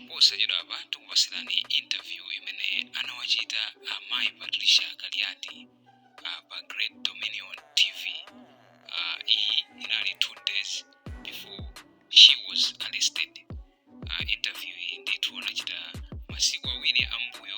posachedwapa tikupatsirani interview imene anawachita amayi patricia kaliati uh, pa great dominion tv uh, iyi inali two days before she was arrested uh, interview iyi ndithu anachita masiku awiri ambuyo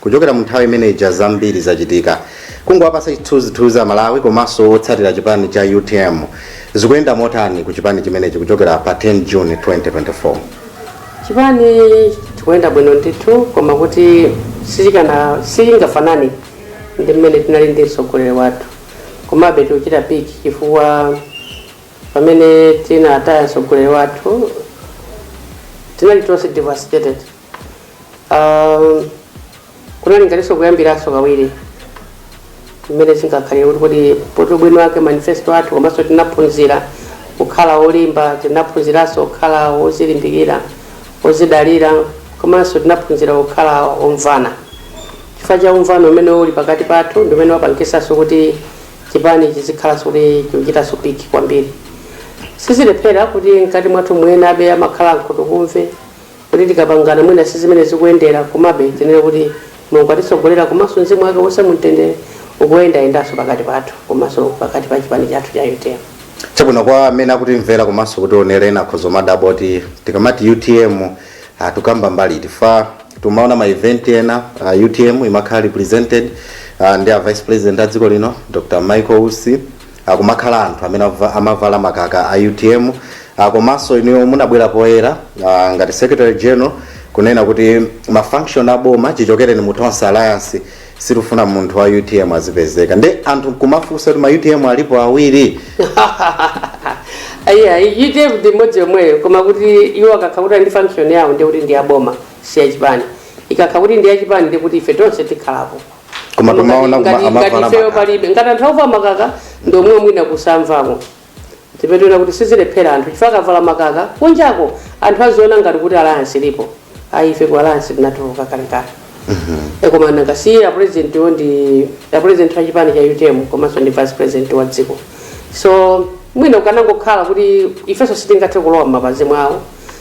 Kuchokera mu nthawi imene ija zambiri zachitika. Kungowapatsa chithunzithunzi a Malawi komanso otsatira chipani cha utm, zikuyenda motani ku chipani chimenechi kuchokera pa 10 June 2024? Chipani chikuyenda bwino ndithu koma kuti sichikana, sichingafanane ndi mmene tinali ndi mtsogoleri wathu. Komabe tikuchita piki chifukwa pamene tinataya mtsogoleri wathu tinali tonse devastated. Um, kunali ngatinso kuyambiranso kawiri mmene zingakhalire kuti kodi poti ubwino wake manifesto athu komanso tinaphunzira kukhala olimba tinaphunziranso kukhala ozilimbikira ozidalira komanso tinaphunzira kukhala omvana chifukwa cha umvano umene uli pakati pathu ndi umene wapangisanso kuti chipani chizikhalanso kuti chikuchitanso piki kwambiri sizilephera kuti mkati mwathu mwinabe amakhala ankhutukumve Kuti tikapangana mwina sizimene zikuyendera komabe tinene kuti Mulungu atitsogolera komanso mzimu wake uwuse mumtendere ukuyendayendanso pakati pathu komanso pakati pa chipani chathu cha utm. Chabwino kwa amene akutimvera komanso kutionera ena akhoza kumadabwa kuti tikamati utm ah, tikukamba mbali iti chifukwa timaona ma event ena ah, utm imakhala represented ah, ndi a vice president a dziko lino Dr Michael Usi kumakhala anthu amene ava- amavala makaka a utm ah, komanso inuyo munabwera poyera ah, ngati secretary general kunena kuti mafunction aboma chichokereni mu tonse alliance sitifuna munthu wa utm azipezeka nde anthu kumafunsa kuti ma utm alipo awiri ayi utm ndi imodzi yomweyo koma kuti iwo akakha kuti ndi function yawo ndi kuti ndi aboma si yachipani ikakha kuti ndi yachipani ndi kuti ife tonse tikhalapo koma tumaona kuma- Ngati- amavala ngati ifeyo makaka. palibe ngati anthu akuvala makaka ndi omwewo mwina kusamvako timpetera kuti sizilephera anthu chifukwa akavala makaka kunjako anthu aziona ngati kuti alliance ilipo ayi ife ku alliance tinatuluka kalekale E koma nanga si a president wo ndi a president wa chipani cha utm komanso ndi vice president wa dziko so mwina kukanangokhala kuti ifenso sitingathe kulowa m'mapazi mwawo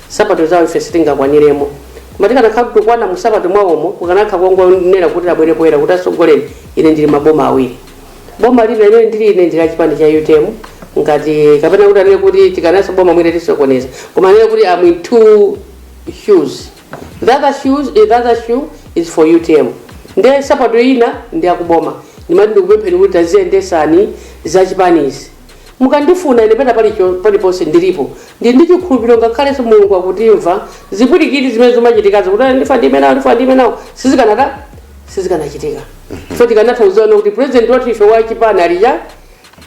Nsapato zawo ife sitingakwaniremo koma tikanakhala kuti tikukwana mu nsapato mwawomo kukanakha kongonena kuti abwere poyera kuti atsogoleri ine ndili maboma awiri boma lina limene ndili ine ndili achipani cha utm ngati kapena kuti anene kuti tikanenanso boma mwina tisokoneza koma anene kuti am in two shoes the other shoes the other shoe is for utm nde nsapato ina ndi yakuboma ndimati ndikupempheni kuti taziyendesani za chipanizi Mukandifuna ine pena pali cho, paliponse ndilipo. Ndili ndi chikhulupiriro ngakhalenso Mulungu akundimva zipwirikiti zimene zimachitikazo kuti "Ah, ndife ndi amenewo ndife ndi amenewo sizikanata sizikanachitika. So tikanatha kuuzana kuti president wathu ife wa chipani alija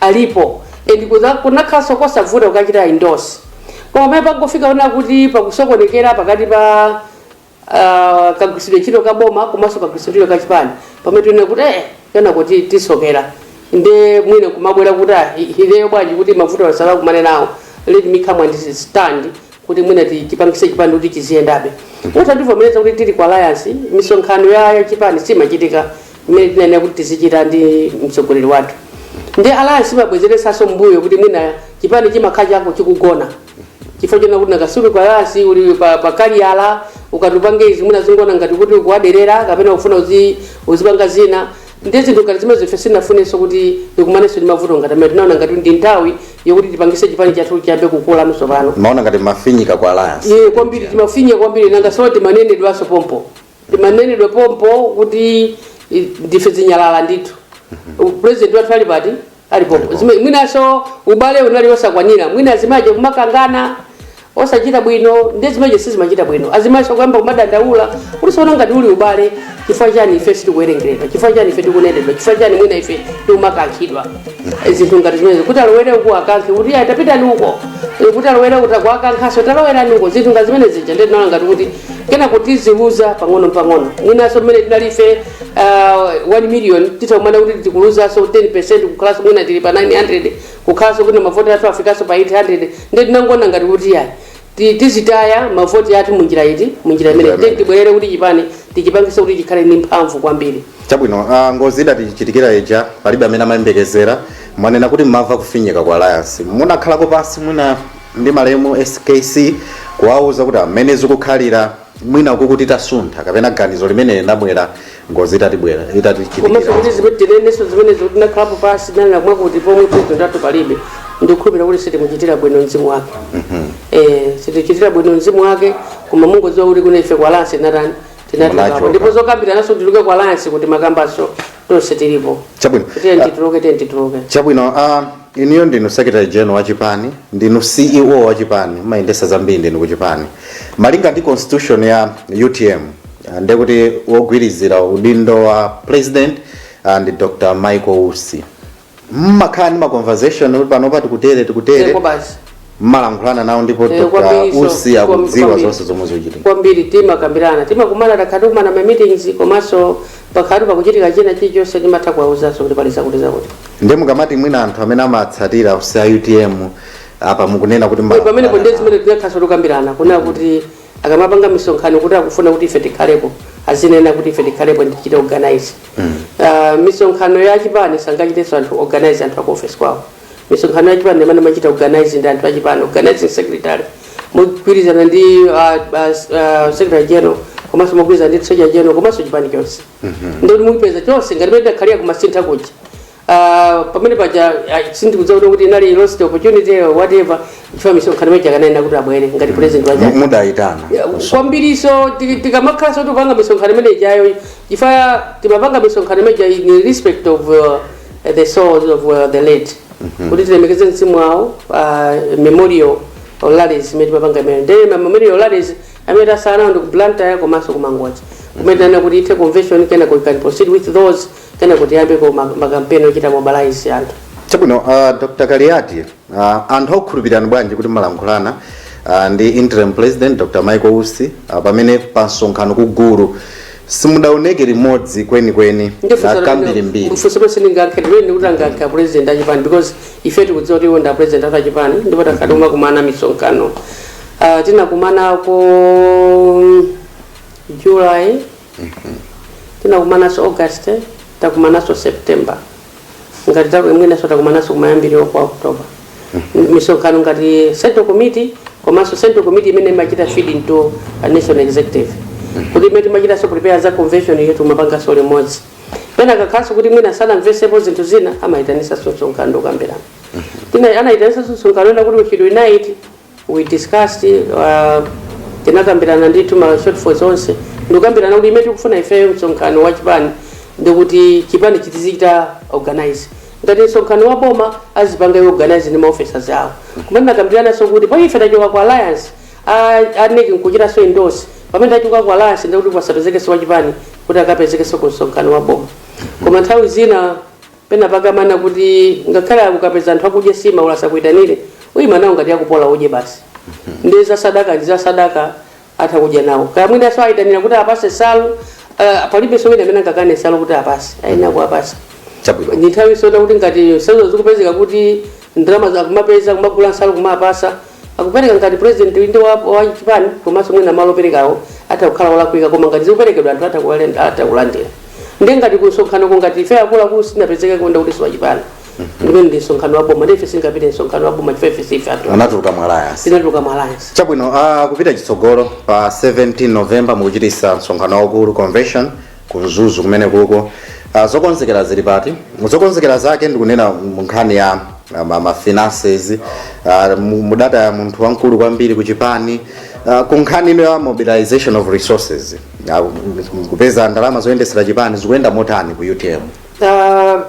alipo and kuza- kunakhalanso kosavuta kukachita endorse. Koma pamene tangofika pona kuti pakusokonekera pakati pa kagwiritsidwe ntchito ka boma komanso kagwiritsidwe ntchito ka chipani pamene tinaona kuti eh kenako ti- tisokera nde mwina kumabwera kuti ah, i- ineyo bwanji kuti mavuto asanakumane nawo let me come and stand kuti mwina ti- tichipangise chipani kuti chiziyendabe utativomereza kuti tili ku alliance misonkhano ya ya chipani simachitika imene tinanena kuti tizichita ndi mtsogoleri wathu ndi alliance imabwezeresanso mbuyo kuti mwina chipani chimakhala chako chikugona chifukwa chona kuti nanga si uli kwa alliance uli pa, pa kaliyala ukati upange izi mwina zioneka ngati kuti ukuwaderera kapena ufuna uzi, uzipanga zina ndi zinthu ngati zimene ife sindinafunenso kuti ndikumanenso ndi mavuto ngati amene tinaona ngati ndi nthawi yokuti tipangise chipani chathu chiyambe kukula so pano mumaona ngati mumafinyika kwa alliance eya kwambiri timafinyika kwambiri nanga so timanenedwanso pompo timanenedwa pompo kuti i- ndife zinyalala ndithu president wathu ali pati alipo Alipo. Zime- mwinaso ubale unali osakwanira mwina azimayi kumakangana osachita bwino nde zimenezi sizimachita bwino azimayi kuyamba kumadandaula kuti sono ngati uli ubale chifukwa chani ife sitikuwerengeredwa chifukwa chani ife tikunenedwa chifukwa chani mwina ife tikumakankhidwa Eh, zinthu ngati zimenezo kuti alowere uku akankhe kuti ayi tapitani uko Eh, kuti alowere uku takuakankhaso talowerani uko zinthu ngati zimenezi zija ndinaona ngati kuti kenako tiziluza pang'ono pang'ono mwinaso mmene tinali ife uh, 1 million titakumana kuti tikuluzaso 10 kukhalaso mwina tili pa 900 kukhalaso kuti mavoti athu afikaso pa 800 nde tinangona ngati kuti yayi ti- tizitaya mavoti athu munjira iti munjira imene Njira imene. nde tibwerere kuti chipani tichipangise kuti chikhale ndi mphamvu kwambiri chabwino uh, ngozi idatichitikira ija palibe amene amayembekezera mwanena kuti mumamva kufinyika kwa alliance munakhalako pansi mwina ndi malemu skc kuwauza kuti mmene zikukhalira mwina uku kuti titasuntha kapena ganizo limene linabwera ngozi itatibwera komanso itatichitikira kuti zimene tinenenso zimenezo tinakhalapo pansi tinanena mwakuti pomwe poti ndatu palibe ndikukhulupirira kuti sitimuchitira bwino mzimu wake Eh, sitichitira bwino mzimu wake koma mungodziwa kuti kuno ife kwa alliance tinatani Munachoka. tinatulukako ndipo zokambirananso tituluke kwa alliance kuti timakambanso tonse tilipo chabwino tiyeni tituluke tiyeni tituluke chabwino ah, Inuyo ndinu secretary general wa chipani, ndinu CEO wa chipani, mumayendesa zambiri ndinu ku chipani. Malinga ndi constitution ya utm ndekuti wogwirizira udindo wa president ndi Dr Michael Usi. Mumakhala ndi ma conversation kuti panopa tikutere tikutere? mmalankhulana nawo ndipo Eh, dr kwambiri so- usi kwam- akudziwa kwambiri. zonse zomwe zikuchitika kwambiri timakambirana timakumana takhala tikukumana ma meetings komanso pakhala pakuchitika china chilichonse timatha kuwauzaso kuti pali zakuti zakuti nde mukamati mwina anthu amene amatsatira usi a utm apa mukunena kuti Ndipo pamene mmalankhulana ponde nawo. zimene tinakhalaso tikukambirana kunena kuti akamapanga misonkhano kuti akufuna kuti ife tikhalepo azinena kuti ife tikhalepo tichite organize Ah, misonkhano ya chipani sangachitenso organize anthu aku office kwawo misonkhano ya chipani amene amachita organize ndi anthu achipani organizing secretary mogwirizana ndi uh, uh, uh, secretary general komanso mogwirizana ndi treasurer general komanso chipani chonse ndi kuti mupeza chonse ngati pamene tidakhalira ku Masintha kuja Ah, pamene paja ah, sindikudziwa kuti kuti inali lost opportunity or whatever chifukwa misonkhano imene ija akananena kuti abwere ngati president waja mudayitana kwambiriso tikamakhalanso tikupanga misonkhano imene ijayo chifukwa timapanga misonkhano imene ijayo in respect of uh, uh, the souls of uh, the late kuti tilemekeze mzimu wawo ma memorial rallies imene timapanga imene ndi ma memorial rallies amene tatsala nawo ndi ku blantyre komanso ku mangochi kumene tinanena kuti ithe convention kenako we can proceed with those kenako tiyambeko makampeni ochita mobilize anthu chabwino uh, dr kaliati Uh, anthu akukhulupirirani bwanji kuti mmalankhulana uh, ndi interim president dr michael usi uh, pamene pa msonkhano ku gulu simudaoneke limodzi kwenikweni uh, kwambirimbiri funso lonse ndingayankhe ndimene kuti angayankhe apresident achipani because ife tikudziwa kuti iwo ndi apresident athu achipani ndipo takhala tikumakumana misonkhano Ah, tinakumana ko july tinakumananso august takumananso september ngati za mwinanso takumananso kumayambiriro kwa october M- misonkhano ngati central committee komanso central committee imene imachita feed into a national executive kuti imene timachitanso prepare za convention yetu timapanganso limodzi pena akakhalaso kuti mwina sanamvesepo zinthu zina amayitanisa msonkhano nkukambirana tina anayitanisa msonkhano onena kuti we should unite We discussed, Tinakambirana ndithu ma shortfalls onse ndikukambirana kuti imene tikufuna ifeyo msonkhano wa chipani ndikuti chipani chizichita organize ngati msonkhano wa boma azipanga iwo organize ndi ma officers awo koma tinakambirananso kuti pamene ife tachoka ku alliance a, a NEC nkuchitanso endorse pamene tachoka ku alliance ndikuti pasapezekenso wa chipani kuti akapezekenso ku msonkhano wa boma koma nthawi zina penapake amanena kuti ngakhale akukapeza anthu akudya sima olo asakuitanire umadya nawo ngati yakupola udye basi ndi za sadaka ndi za sadaka utha kudya nawo kaya mwina so aitanira kuti awapase salu uh, palibenso wina amene angakane salu kuti awapase ayenera kuwapasa chabwino ndi nthawi yosonyeza kuti ngati saluzo zikupezeka kuti ndalama zakumapeza kumagula nsalu kumawapasa Akupereka ngati president inde wa wa chipani komanso mwina malo operekawo atha kukhala olakwika koma ngati zikuperekedwa anthu atha kuwalen atha kulandira ndiye ngati kumsonkhanoko ngati ife akuluakulu sitinapezekeko nde kuti siwachipani ndimene ndi msonkhano wa boma ndiye ife sitingapite msonkhano wa boma chifukwa ife sife athu anatuluka mu alliance tinatuluka mu alliance chabwino uh, kupita chitsogolo pa 17 november mukuchitisa msonkhano waukulu convention ku mzuzu kumenekuko uh, zokonzekera zili pati zokonzekera zake ndikunena mu nkhani ya uh, ma- ma finances uh, mu- mudali a munthu wamkulu kwambiri ku chipani uh, ku nkhani ino ya mobilization of resources uh, kupeza ndalama zoyendetsera chipani zikuyenda motani ku utm Ah,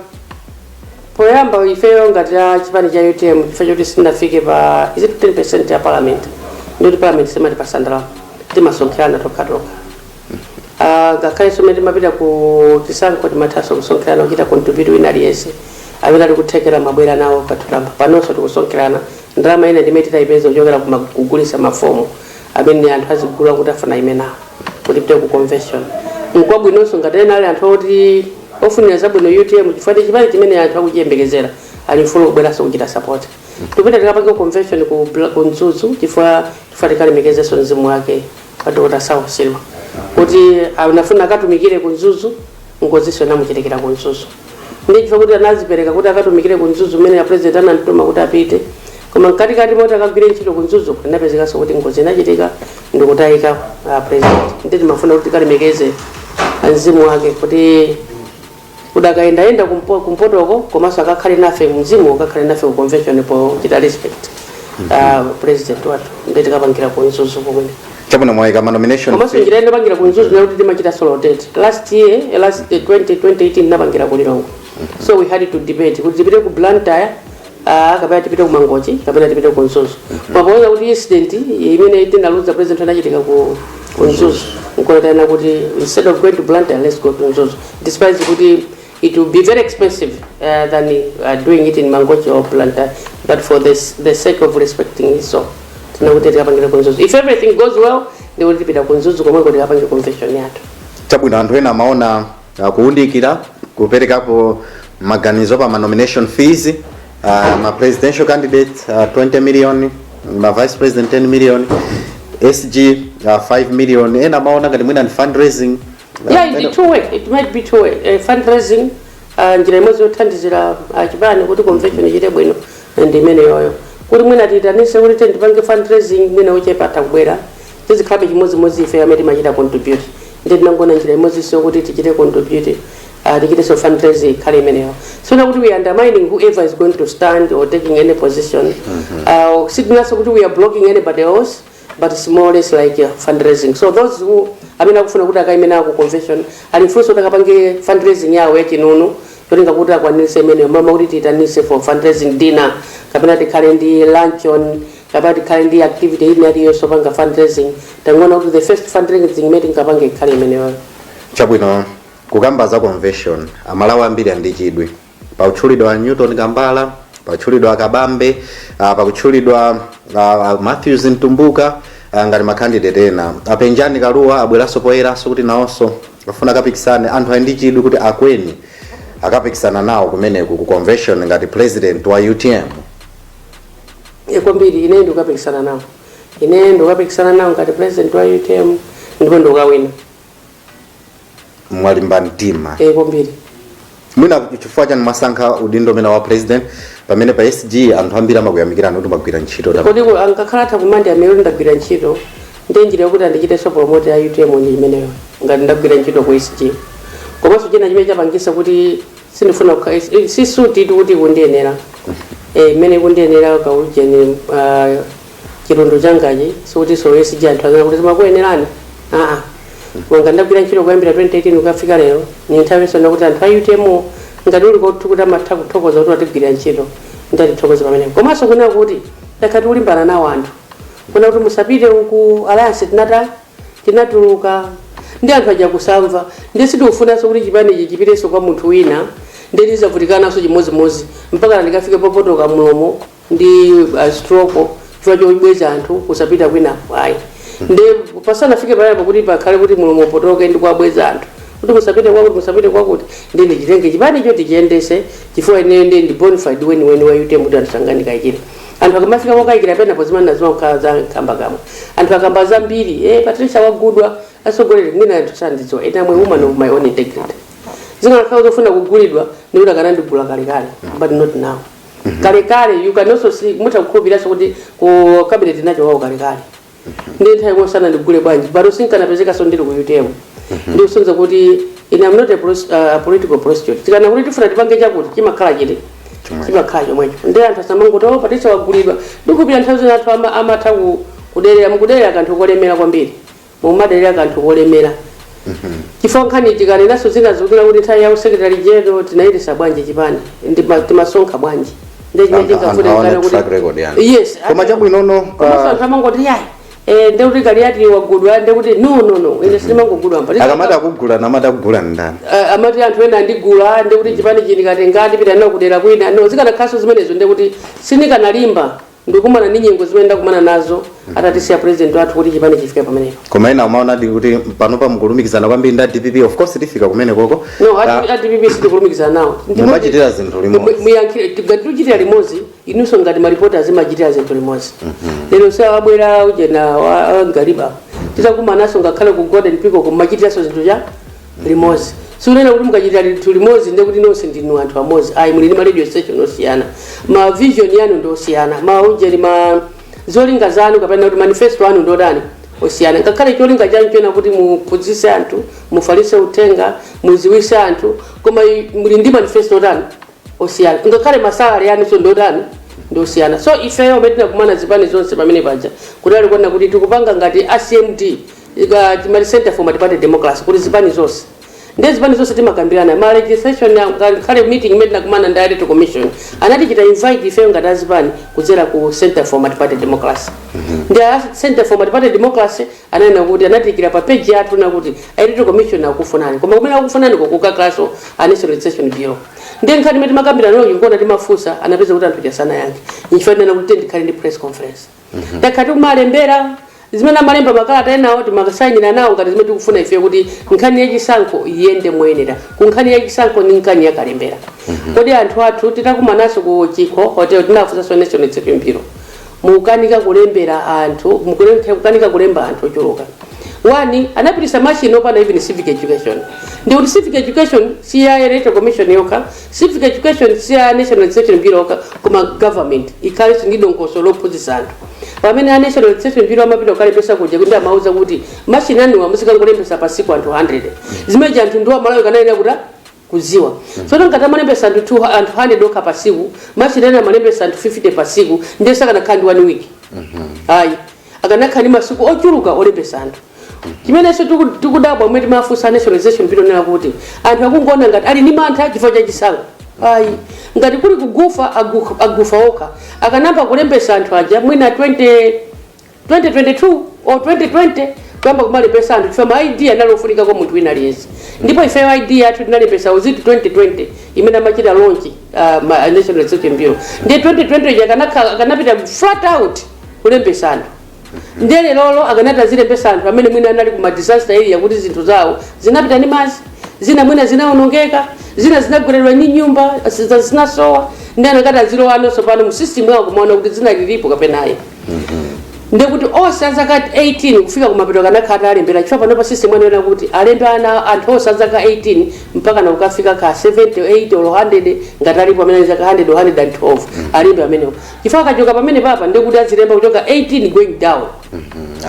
poyamba ifeyo ngati a chipani cha utm chifukwa choti sitinafike pa is it 10 ya parliament ndikuti parliament simatipatsa ndalama timasonkherana tokhatokha Ah, ngakhale nso mmene timapita ku chisankho timathanso kusonkherana kuchita contribute wina aliyense amene ali nkuthekera amabwera nawo patsikulo panonso tikusonkherana ndalama ina ndimene titaipeze kuchokera kuma- kugulisa mafomu amene anthu azigula kuti afuna aimenawo kuti tipite ku convention nkwabwinonso ngati ena ali anthu oti ofunira zabwino utm chifukwa ndi chipani chimene anthu akuchiyembekezera ali omasuka kubweranso kuchita support tipita tikapange convention ku Bla- ku mzuzu chifukwa chifukwa tikalemekezenso mzimu wake a Dr. Saulos Chilima kuti anafuna akatumikire ku Mzuzu ngozinso inamuchitikira ku Mzuzu ndi chifukwa kuti anadzipereka kuti akatumikire ku Mzuzu mmene a president anamtuma kuti apite koma mkatikati moti akagwire ntchito ku Mzuzu inapezekanso kuti ngozi inachitika ndi kutayika a president nde timafuna kuti tikalemekeze mzimu wake kuti udakayendayenda kumpo, kumpotoko komanso akakhale nafe mzimu ukakhale nafe ku convention pochita respect uh, president wathu nde tikapangira ku mzuzu komweko chabwino mwaika ma nomination komanso njira ina popangira ku mzuzu ndakuti timachita zo rotate last year eh, last eh, 20 2018 tinapangira ku lilongwe so we had to debate kuti tipite ku blantyre Ah, kapena tipite ku mangochi kapena tipite ku mzuzu koma poona kuti incident imene tinaluza president inachitika ku ku mzuzu nkoyitana kuti instead of going to blantyre let's go to mzuzu despite kuti it will be very expensive uh, than uh, doing it in mangochi or blantyre but for this, the sake of respecting his soul tinati tikapangire ku mzuzu if everything goes well ndekuti tipita ku mzuzu komweko tikapangire convention yathu chabwino anthu ena amaona uh, kuunikira kuperekapo maganizo pa ma nomination fees uh, ma presidential candidates uh, 20 million ma vice president 10 million sg uh, 5 million ena amaona ngati mwina ndi fundraising uh, yeah ena- it two way it might be two way uh, fundraising uh, njira imodzi yothandizira uh, chipani kuti convention ichite bwino ndi imeneyoyo kuti mwina tiitanitse kuti then tipange fundraising mwina ochepa atakubwera tizikhalabe chimodzimodzi ifeyo amene timachita contribute ndiye tinangoona njira imodzinso yokuti tichite contribute uh, tichitenso fundraise ikhale imeneyo osanena kuti we are undermining whoever is going to stand or taking any position uh, sitinanso kuti we are blocking anybody else but it's more or less like uh, fundraising so those who amene akufuna kuti akaime nawo ku convention ali mfulunso kuti akapange fundraising yawo yachinunu ncholinga kuti akwanise imeneyo mama kuti tiitanise for fundraising dinner kapena tikhale ndi luncheon Kapena tikhale ndi activity ina iliyonse yopanga fundraising, tangoona kuti the first fundraising imene tingapange ikhale imeneyoyo. Chabwino, kukamba za convention, amalawi ambiri ali ndi chidwi. Pakutchulidwa a Newton Kambala, pakutchulidwa a Kabambe, ah, pakutchulidwa ah, a Matthews Mtumbuka ah, ngati ma candidate ena. A Penjani Kalua abweranso poyeranso kuti nawonso afuna akapikisane. Anthu ali ndi chidwi kuti Akweni akapikisana nawo kumeneku ku convention ngati president wa UTM. e kwambiri ine ndikukapikisana nawo ine ndikukapikisana nawo ngati president wa utm ndipo ndikukawina mwalimba mtima e kwambiri mwina chifukwa chani mwasankha udindo umenewu wa president pamene pa sg anthu ambiri amakuyamikirani kuti mwagwira ntchito tam- kodi ku- ankakhala atha kumandi amene kuti ndagwira ntchito ndi njira yokuti andichitenso promote ya utm ndi imeneyo ngati ndagwira ntchito ku sg komanso china chimene chapangisa kuti sindifuna kukha- is- is- si suti iti kuti kundiyenera Eh, mmene kundiyenera kaujeni chilundu changachi sikutinso SG anthu azanena kuti zimakuyenerani aa wanga ndagwira ntchito kuyambira 2018 kukafika lero ni nthawi yosona kuti anthu a utm ngati uli kotu kuti amatha kuthokoza kuti watigwirira ntchito ndatithokoza pamenepo komanso kunena kuti takhala tikulimbana nawo anthu kunena kuti musapite ku alliance tinata tinatuluka ndi anthu aja kusamva ndiye sitikufunanso kuti chipanichi chipitenso kwa munthu wina ndiye tizavutikananso chimodzimodzi mpaka ndikafike popotoka mlomo ndi uh, stroke chifukwa chobweza anthu kusapita kwina ayi ndiye pasanafike payapa kuti pakhale kuti mlomo upotoke ndi kuwabweza anthu kuti musapite kwakuti musapite kwakuti ndi ndichitenge chipanicho tichiyendese chifukwa ineyo ndi ndi bonafide weniweni wa utm kuti andisanganikachire anthu akamafika pokayikira penapo zimanena zimakhala za nkhambakamwa anthu akamba zambiri eh, patricia wagulidwa atsogoleri mwina anthu sandidziwa ine am a woman of my own integrity zikanakhala zofuna kugulidwa ndikuti akanandigula kalekale but not now kalekale you can also see mutha kukhulupiriranso kuti ku cabinet ndinachokako kalekale ndiye nthawi imeneyo sanandigule bwanji pano sinkanapezekaso ndili ku utm ndikusonyeza kuti ine am not a pros- uh, a political prostitute tikanena kuti tifuna tipange chakuti chimakhala chiti Chomwecho. chimakhala chomwecho ndiye anthu asamangoti o patricia wagulidwa ndikukhulupirira nthawi zina anthu ama- amatha ku- kuderera mukuderera kanthu kolemera kwambiri mumaderera kanthu kolemera chifukwa nkhani tikanenanso zina zikuti kuti nthawi ya u secretary general tinayendesa bwanji chipani ndi ma- timasonkha bwanji ndiye chimene Anthu- anthu chingafune aone kaye kuti- track record yanu. yes koma chabwinono komanso pa- anthu amangoti yayi eh, ndiye kuti kaliyati wagulidwa ndiye kuti no no no ine sindimangogulidwa mwa akamati akugula namati akugula ndani Eh, amati anthu ena andigula ndikuti chipani chindikatengati pita nawo kudera kwina no zikanakhalanso zimenezo ndikuti sindikanalimba Ndikumana ndi nyengo zimene ndakumana nazo atatisiya president wathu kuti chipani chifike pamenepo. koma ena amaonadi kuti panopa mukulumikizana kwambiri ndi a dpp of course tifika kumenekoko No, Ka- a d a dpp sitikulumikizana nawo. Ndipo- Mumachitira zinthu limodzi. Mu- Muyankhire tikati tuchitira limodzi inunso ngati maripota mumachitira zinthu limodzi. Lero si awabwera ujena wa wa Ngaliba. Titakumananso ngakhale ku Golden Peacock kumachitiranso zinthu cha limodzi sukunena kuti mukachitira zinthu limodzi ndiye kuti nonse ndinu anthu amodzi ayi muli ndi ma radio station osiyana ma vision yanu ndi osiyana ma ujeni ma zolinga zanu kapena kuti manifesto anu ndi otani osiyana ngakhale cholinga chanu chonena kuti muphunzitse anthu mufalitse uthenga muziwitse anthu koma i- muli ndi manifesto otani osiyana ngakhale masalari anu so ndi otani ndi osiyana so ifeyo pamene tinakumana zipani zonse pamene paja ndiye alikunena kuti tikupanga ngati a cmd ija timati center for multiparty democracy kuti zipani zonse ndiye zipani zonse timakambirana ma registration ya- ka- kale meeting imene tinakumana ndi electoral commission anatichita invite ifeyo ngati azipani kudzera ku center for multiparty democracy ndi a center for multiparty democracy ananena kuti anatiikira pa page yathu nakuti electoral commission akufunani koma kumene akufunani kukakhalanso a national registration bureau ndiye nkhani imene timakambirana nayo ndikuona timafunsa anapeza kuti anthu asanayankhe nchifukwa ndinena kuti ndikhale ndi press conference Mhm. tayamba kumalembera zimene amalemba makalata enawo timakasayinira nawo ngati zimene tikufuna ife kuti nkhani yachisankho iyende moyenera ku nkhani yachisankho ndi nkhani yakalembera mhm. kodi anthu athu titakumananso ku chikho hotel tinafunsanso national registration bureau mukukanika kulembera anthu mukukanika kulemba anthu ochuluka wani anapitisa machine opanda even civic education ndikuti civic education si ya electoral commission yokha Civic education si ya National Registration Bureau koma government ikhalenso ndi dongosolo lophunzitsa anthu. Pamene a National Registration Bureau amapita kukalembetsa kuja kuti amauza kuti machine anuwa muzikangolembetsa pa siku anthu 100. Zimenezi anthu ndiwo amalawi akanayenera kuti kudziwa tsono ngati amalembetsa anthu 200 anthu 100 okha pa siku machine anu amalembetsa anthu 50 pa siku ndiye sakanakhala ndi one week ayi akanakhala ndi masiku ochuluka olembesa anthu chimenenso tiku- tikudabwa mmene timafunsa a national registration bureau kunena kuti anthu akungoona ngati ali ndi mantha chifukwa cha chisankho ayi ngati kuli kugufa agu- agufa okha akanayamba kulembesa anthu aja mwina 20 2022 or 2020 kuyamba kumalembesa anthu chifukwa ma id anali ofunika kwa munthu wina aliyense ndipo ifeyo id yathu tinalembesa uziti 2020 imene amachita lonchi uh, ma- national registration bureau ndiye 2020 ija akanakhala- akanapita flat out kulembesa anthu ndiye lerolo akanatha azilembesa anthu amene mwina anali ku madisaster area kuti zinthu zawo zinapita ndi madzi zina mwina zinaonongeka zina zinagweredwa ndi nyumba zina zinasowa ndiye anakatha azilowanso pano mu system yawo kumaona kuti zina lilipo kapenayi ndekuti onse azaka 18 kufika kumapeto akanakhala atalembera chifukwa panopa system ananena kuti alembe ana anthu onse azaka 18 mpakana kukafika ka 70 80 or 100 ngati alipo amene ali zaka 100 or 112 alembe amenewo chifukwa akachoka pamenepapa ndiye kuti azilemba kuchoka 18 going down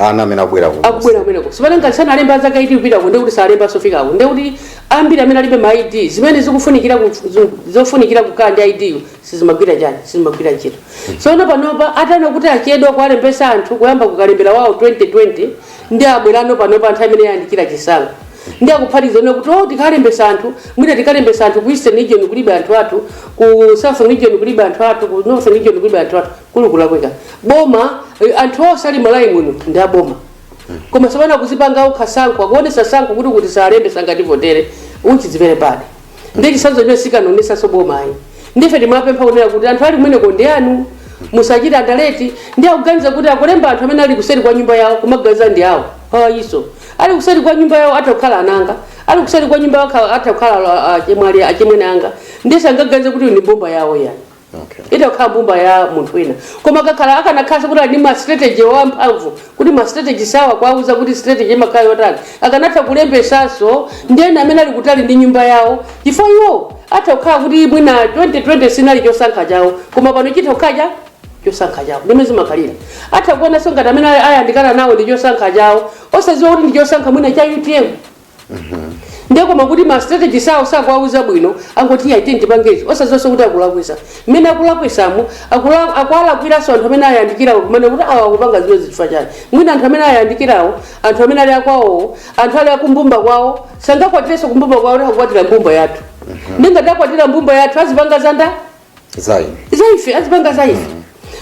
ana amene akubwera ku akubwera kumeneko sipana ngati sanalemba azaka 18 kupitako ndiye kuti salembanso afikako ndiye kuti ambiri amene alibe ma id zimene zikufunikira ku- zo- zofunikira kukhala ndi id yo sizimagwira chani sizimagwira ntchito tsono panopa ataona kuti achedwa kuwalembesa anthu kuyamba kukalembera wawo 2020 ndiye abwerano panopa nthawi imene ayandikira chisankho ndiye akuphatizano kuti oh tikalembesa anthu mwina tikalembesa anthu ku eastern region kulibe anthu athu ku southern region kulibe anthu athu ku northern region kulibe anthu athu ukulakwika boma eh, anthu onse ali Malawi muno ndi aboma koma sapana kuzipanga ukhasankho akuonesa tsankho kuti kuti salembesa ngati votere uchidzivere pade ndi chisanzo chimene sikuonetsanso boma ayi ndife timapempha kunena kuti anthu ali kumeneko ndi anu musachite andaleti ndiye akuganiza kuti akulemba anthu amene ali kuseri kwa nyumba yawo kumaganiza ndi awo ayi iso ali kuseri kwa nyumba yawo atha kukhala anzanga ali kuseri kwa nyumba yawo akha- atha kukhala achemwali achemwene anga ndiye sangaganize kuti uyu ndi mbumba yawo yani okay. itha kukhala mbumba ya munthu wina koma kakhala akanakhalanso kuti ali ndi ma strategist amphamvu kuti ma strategist awo akuwauza kuti strategy imakhala yotani akanatha kulembesanso ndi ena amene ali kutali ndi nyumba yawo chifukwa iwo atha kukhala kuti mwina 2020 sinali chosankha chawo koma pano chitha kukhala cha chosankha chawo ndimmene zimakhalira atha kuonanso ngati amene ayandikana nawo ndi chosankha chawo osadziwa kuti ndi chosankha mwina cha utm ndiye koma kuti ma strategist awo sakuwauza bwino angoti iye aite ndipange ichi osaonanso kuti akulakwisa mmene akulakwisamo akula- akuwalakwiranso anthu amene ayandikirawo kunena kuti awa akupanga zimene zifukwa chake mwina anthu amene ayandikirawo anthu amene ali akwawowo anthu ali akumbumba kwawo sangakwatirenso kumbumba kwawo kuti akukwatira mbumba yathu ndiye ngati akwatira mbumba yathu azipanga zanda zayi za ife azipanga za ife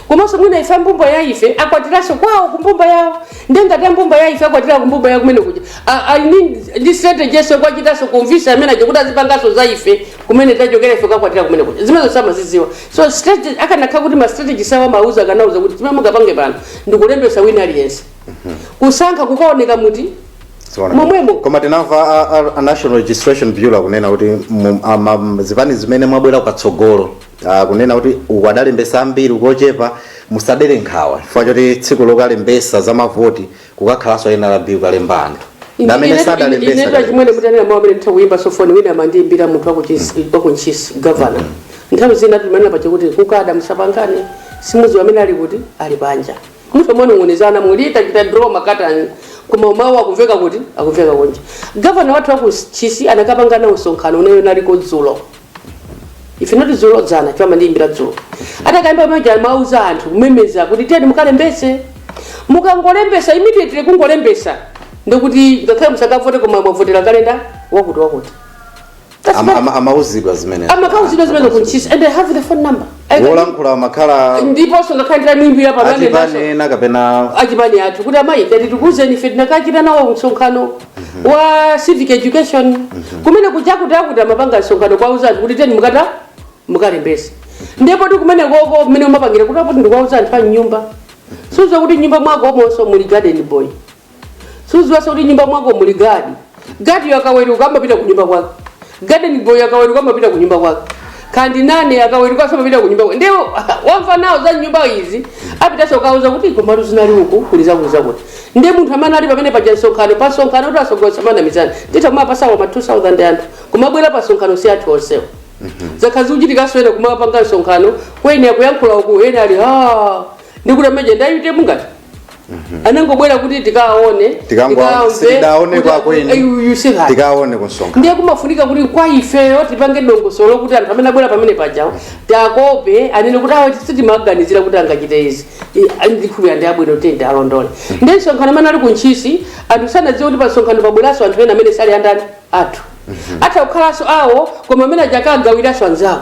komanso mwina ife ambumba ya ife akwatiranso kwawo kumbumba yawo ndiye ngati ambumba ya ife akwatira kumbumba yawo kumene kuja A- I mean, ndi strategy so kuwachitanso convince amene aja kuti azipanganso za ife kumene tachokera ife kakwatira kumene kuja zimenezo samaziziwa so strategy akanakhala kuti ma strategist awo amawauza akanawauza kuti chimene mungapange pano ndikulembesa wina aliyense kusankha kukaoneka muti Momwemo. koma tinamva a- a- a national registration bureau akunena kuti mu- ama- m- zipani zimene mwabwera ukatsogolo ah, kunena kuti uku adalembesa ambiri uku ochepa musadere nkhawa chifukwa choti tsiku lokalembesa za mavoti kukakhalanso nrb kukalemba anthu ndamene inetu sadalembesa achimwene mutanena mawu amene nditha kuyimbaso foni wina amandiyimbira munthu wakuntchisi gavana nthawi zina timanena pache kuti kukada musapangane simuziwa amene ali kuti ali panja mutha kumanong'onezana muli tachita draw makatani koma mawu akumveka kuti akumveka kunja gavana wathu wakuntchisi anakapanga nawo msonkhano una- unaliko dzulo if not dzulo dzana chifukwa amandiyimbira dzulo atakayamba pamene amauza anthu kumemeza kuti tiyeni mukalembese mukangolembesa immediately kungolembesa ndikuti ngakhale musakavote koma mwavotera kale ndani wakuti wakuti That's Ama- right. ama- amauzidwa zimene amakauzidwa zimene kuntchisi and i have the phone number I can- wolankhula amakhala ndiponso ngakhale nditamuimbira pamene achipanena kapena achipani athu kuti amayi tati tikuuzeni ife tinakachita nawo msonkhano wa civic education kumene kuchakuti akuti amapanga msonkhano kuwauza anthu kuti tiyeni mukata mukalembese ndi poti kumenekoko kumene umapangira kuti apo ndikuwauza anthu a mnyumba suziwa kuti nyumba mwako momonso muli garden boy suziwaso kuti nyumba mwako muli gadi gadi akaweruka amapita ku nyumba kwake garden boy akaweruka amapita ku nyumba kwake kaya ndi nanny akaweruka amapita ku nyumba kwake ndiye wamva nawo za nyumba izi apitaso kukauza kuti komatu zinali uku kuli zaku- zakuti ndiye munthu amene ali pamene paja msonkhano pa msonkhano kuti asogoleri tisamanamizane titha kumapasako ma 2000 anthu kumabwera pa msonkhano si athu onsewo zakhala zikuchitikanso ena kumapanga msonkhano kwene akuyankhula uku ena ali ha ndikuti amene aja ndi a utm ngati anangobwera kuti tikaone Tikango- sitidaone kwako ine. tikaone tikaone kumsonkhano ndiye kumafunika kuti kwa ifeyo tipange dongosolo kuti anthu amene abwera pamene pajawo takope anene kuti awa sitimaganizira kuti angachite izi I- ndikhulupirira ndi abwino tende alondole ndiye msonkhano amene ali kuntchisi anthu sanadziwe kuti pa msonkhano pabweranso anthu ena amene sali andani athu atha kukhalanso awo koma amene aja akagawiranso anzawo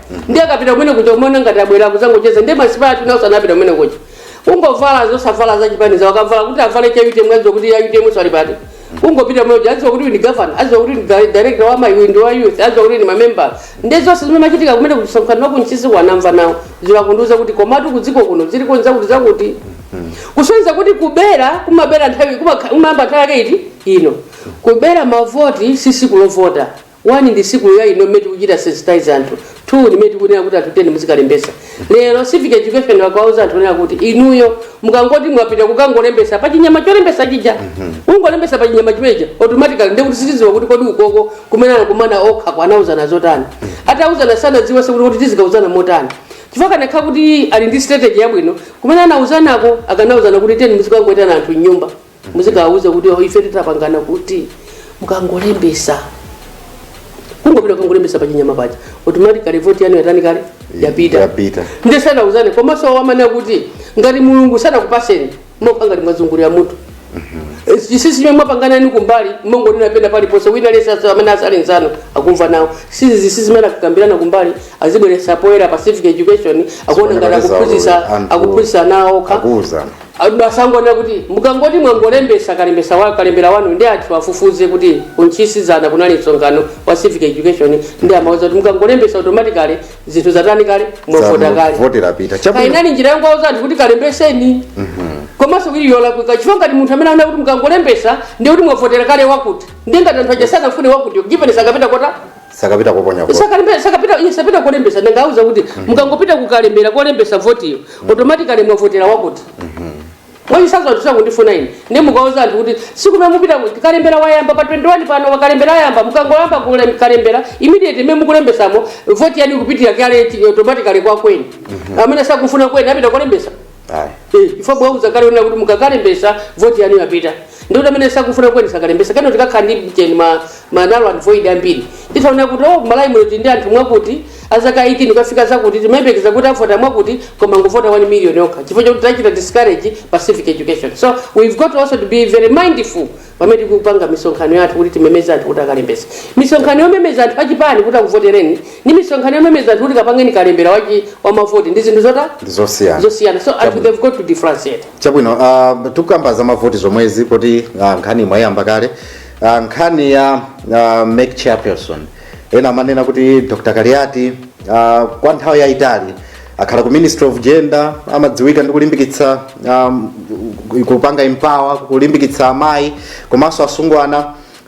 ndiye akapita kumene kuja umaona ngati abwera kuzangocheza ndiye ma spy athu nawoso anapita kumene kuja kungovala osavala za chipani zawo akavala kuti avale cha utm adziwa kuti ya utm sali pati ungopita kumene kuja adziwa kuti uyu ndi gavana adziwa kuti uyu ndi di- director wa amayi uyu ndi wa youth adziwa kuti uyu ndi member ndiye zonse zimene zimachitika kumene kumsonkhano wakuntchisi wanamva nawo izi akundiuza kuti komatu kudziko kuno ziliko ndi zakuti zakuti kusonyeza kuti kubera kumabera nthawi kumakha- kumayamba nthawi yake iti ino kubera mavoti si siku lovota One ndi siku ya ino mmene tikuchita sensitize anthu. Two ndi mmene tikunena kuti anthu tiyeni muzikalembetsa. Lero civic education akawauza anthu kunena kuti inuyo mukangoti mwapita kukangolembetsa pa chinyama cholembetsa chija. Kungolembetsa pa chinyama chimeneja automatically ndiye kuti sitidziwa kuti kodi ukoko kumene anakumana okhako anauzana zotani. Atauzana sanadziwenso kuti kuti tizikauzana motani. chifukwa akanakhala kuti ali ndi strategy yabwino kumene anauzanako akanauzana kuti tiyeni muzikangoitana anthu m'nyumba muzikawauza kuti "Oh, ife titapangana kuti mukangolembesa kungopita kungolembesa pachinyama paja automatically voti yanu yatani kale yapita Yapita. nde sanauzane komanso wamana kuti ngati mulungu sanakupaseni mokha ngati mwazungulira mutu chisisi chimwe mwapangana ni kumbali mungonena pena paliponse wina aliyese asa- amene asali nzanu akumva nawo zisisi zimene akukambirana kumbali azibweresa poyera pa civic education akuona ngati Zimene akuphunzisa zawo, anthu akuphunzisana okha akuwuzana Ayi basi angonena kuti mukangoti mwangolembesa kalembesa wa kalembera wanu ndi anthu afufuze kuti ku Ntchisi dzana kunali msonkhano wa civic education ndi amauza kuti mukangolembesa automatically zinthu zatani kale mwavota kale voti yapita chabwino kaya inali njira yongowauza anthu kuti kalembeseni komanso kuti yolakwika chifukwa ngati munthu amene anena kuti mukangolembesa ndiye kuti mwavotera kale wakuti ndiye ngati anthu aja sanafune wakuti given sakapita kovota sakapita koponya vote Sakalibe- sakapita iye sapita kolembesa ndangowauza kuti mukangopita kukalembera kolembesa votiyo automatically mwavotera wakuti mwachisanzo anthu sakundifuna ine ndi mukauza anthu kuti siku limene mupita ku- kalembera wayamba pa 21 pano wakalembera ayamba mukangoyamba kule- kalembera immediately mmene mukulembesamo voti yanu ikupitira kale chi- automatically kwa kweni amene sakufuna kweni sapita kolembesa ayi Eh, chifukwa mwauza kale onena kuti mukakalembesa voti yanu yapita ndiye kuti amene sakufuna kweni sakalembesa kano tikakhala ndi ujeni ma, ma null and void ambiri tizaona kuti mu Malawi muno tili ndi anthu mwakuti azaka 18 kufika zakuti timayembekeza kuti avota mwakuti koma angovota 1 million yokha chifukwa chakuti tachita discourage pa civic education so we've got also to be very mindful pamene tikupanga misonkhano yathu kuti timemeze anthu kuti akalembetse misonkhano yomemeza anthu achipani kuti akuvotereni ndi misonkhano yomemeza anthu kuti kapangeni kalembera wachi wamavoti ndi zinthu zotani zosiyana zosiyana so anthu Chabwino. they've got to differentiate chabwino uh, tikukamba za mavoti zomwezi poti uh, nkhaniyi mwayiyamba kale uh, nkhani ya uh, MEC chairperson ena amanena kuti Dr Kaliati uh, kwa nthawi yayitali akhala ku ministry of gender amadziwika ndi kulimbikitsa um, kupanga empower kulimbikitsa amayi komanso asungwana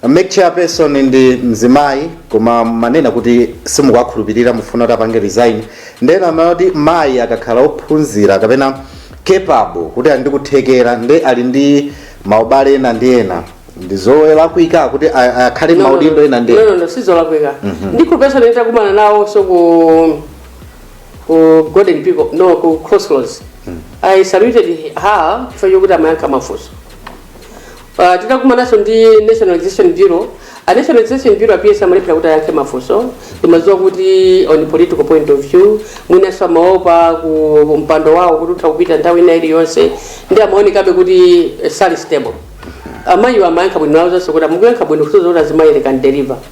MEC chairperson ndi mzimayi koma mumanena kuti simukuwakhulupirira mufuna kuti apange resign nde ena amati mayi akakhala ophunzira kapena capable kuti ali ndi kuthekera ndi ali ndi maubale ena ndi ena ndi zolakwika kuti a- akhale maudindo ena ndi ena no no no sizolakwika ndikhulupesa ine ndakumana nawonso ku ku Golden Peacock no ku crossroads i saluted her chifukwa chokuti amayankha mafunso Uh, titakumananso ndi national registration bureau a national registration bureau a PS amalephera kuti ayankhe mafunso ndimadziwa kuti on political point of view mwinanso amaopa ku mpando wawo kuti utha kupita nthawi ina iliyonse ndi amaonekabe kuti eh, sali stable amayiwo amayankha bwino ndinawauzanso kuti mukuyankha bwino kusonyeza kuti azimayi we can deliver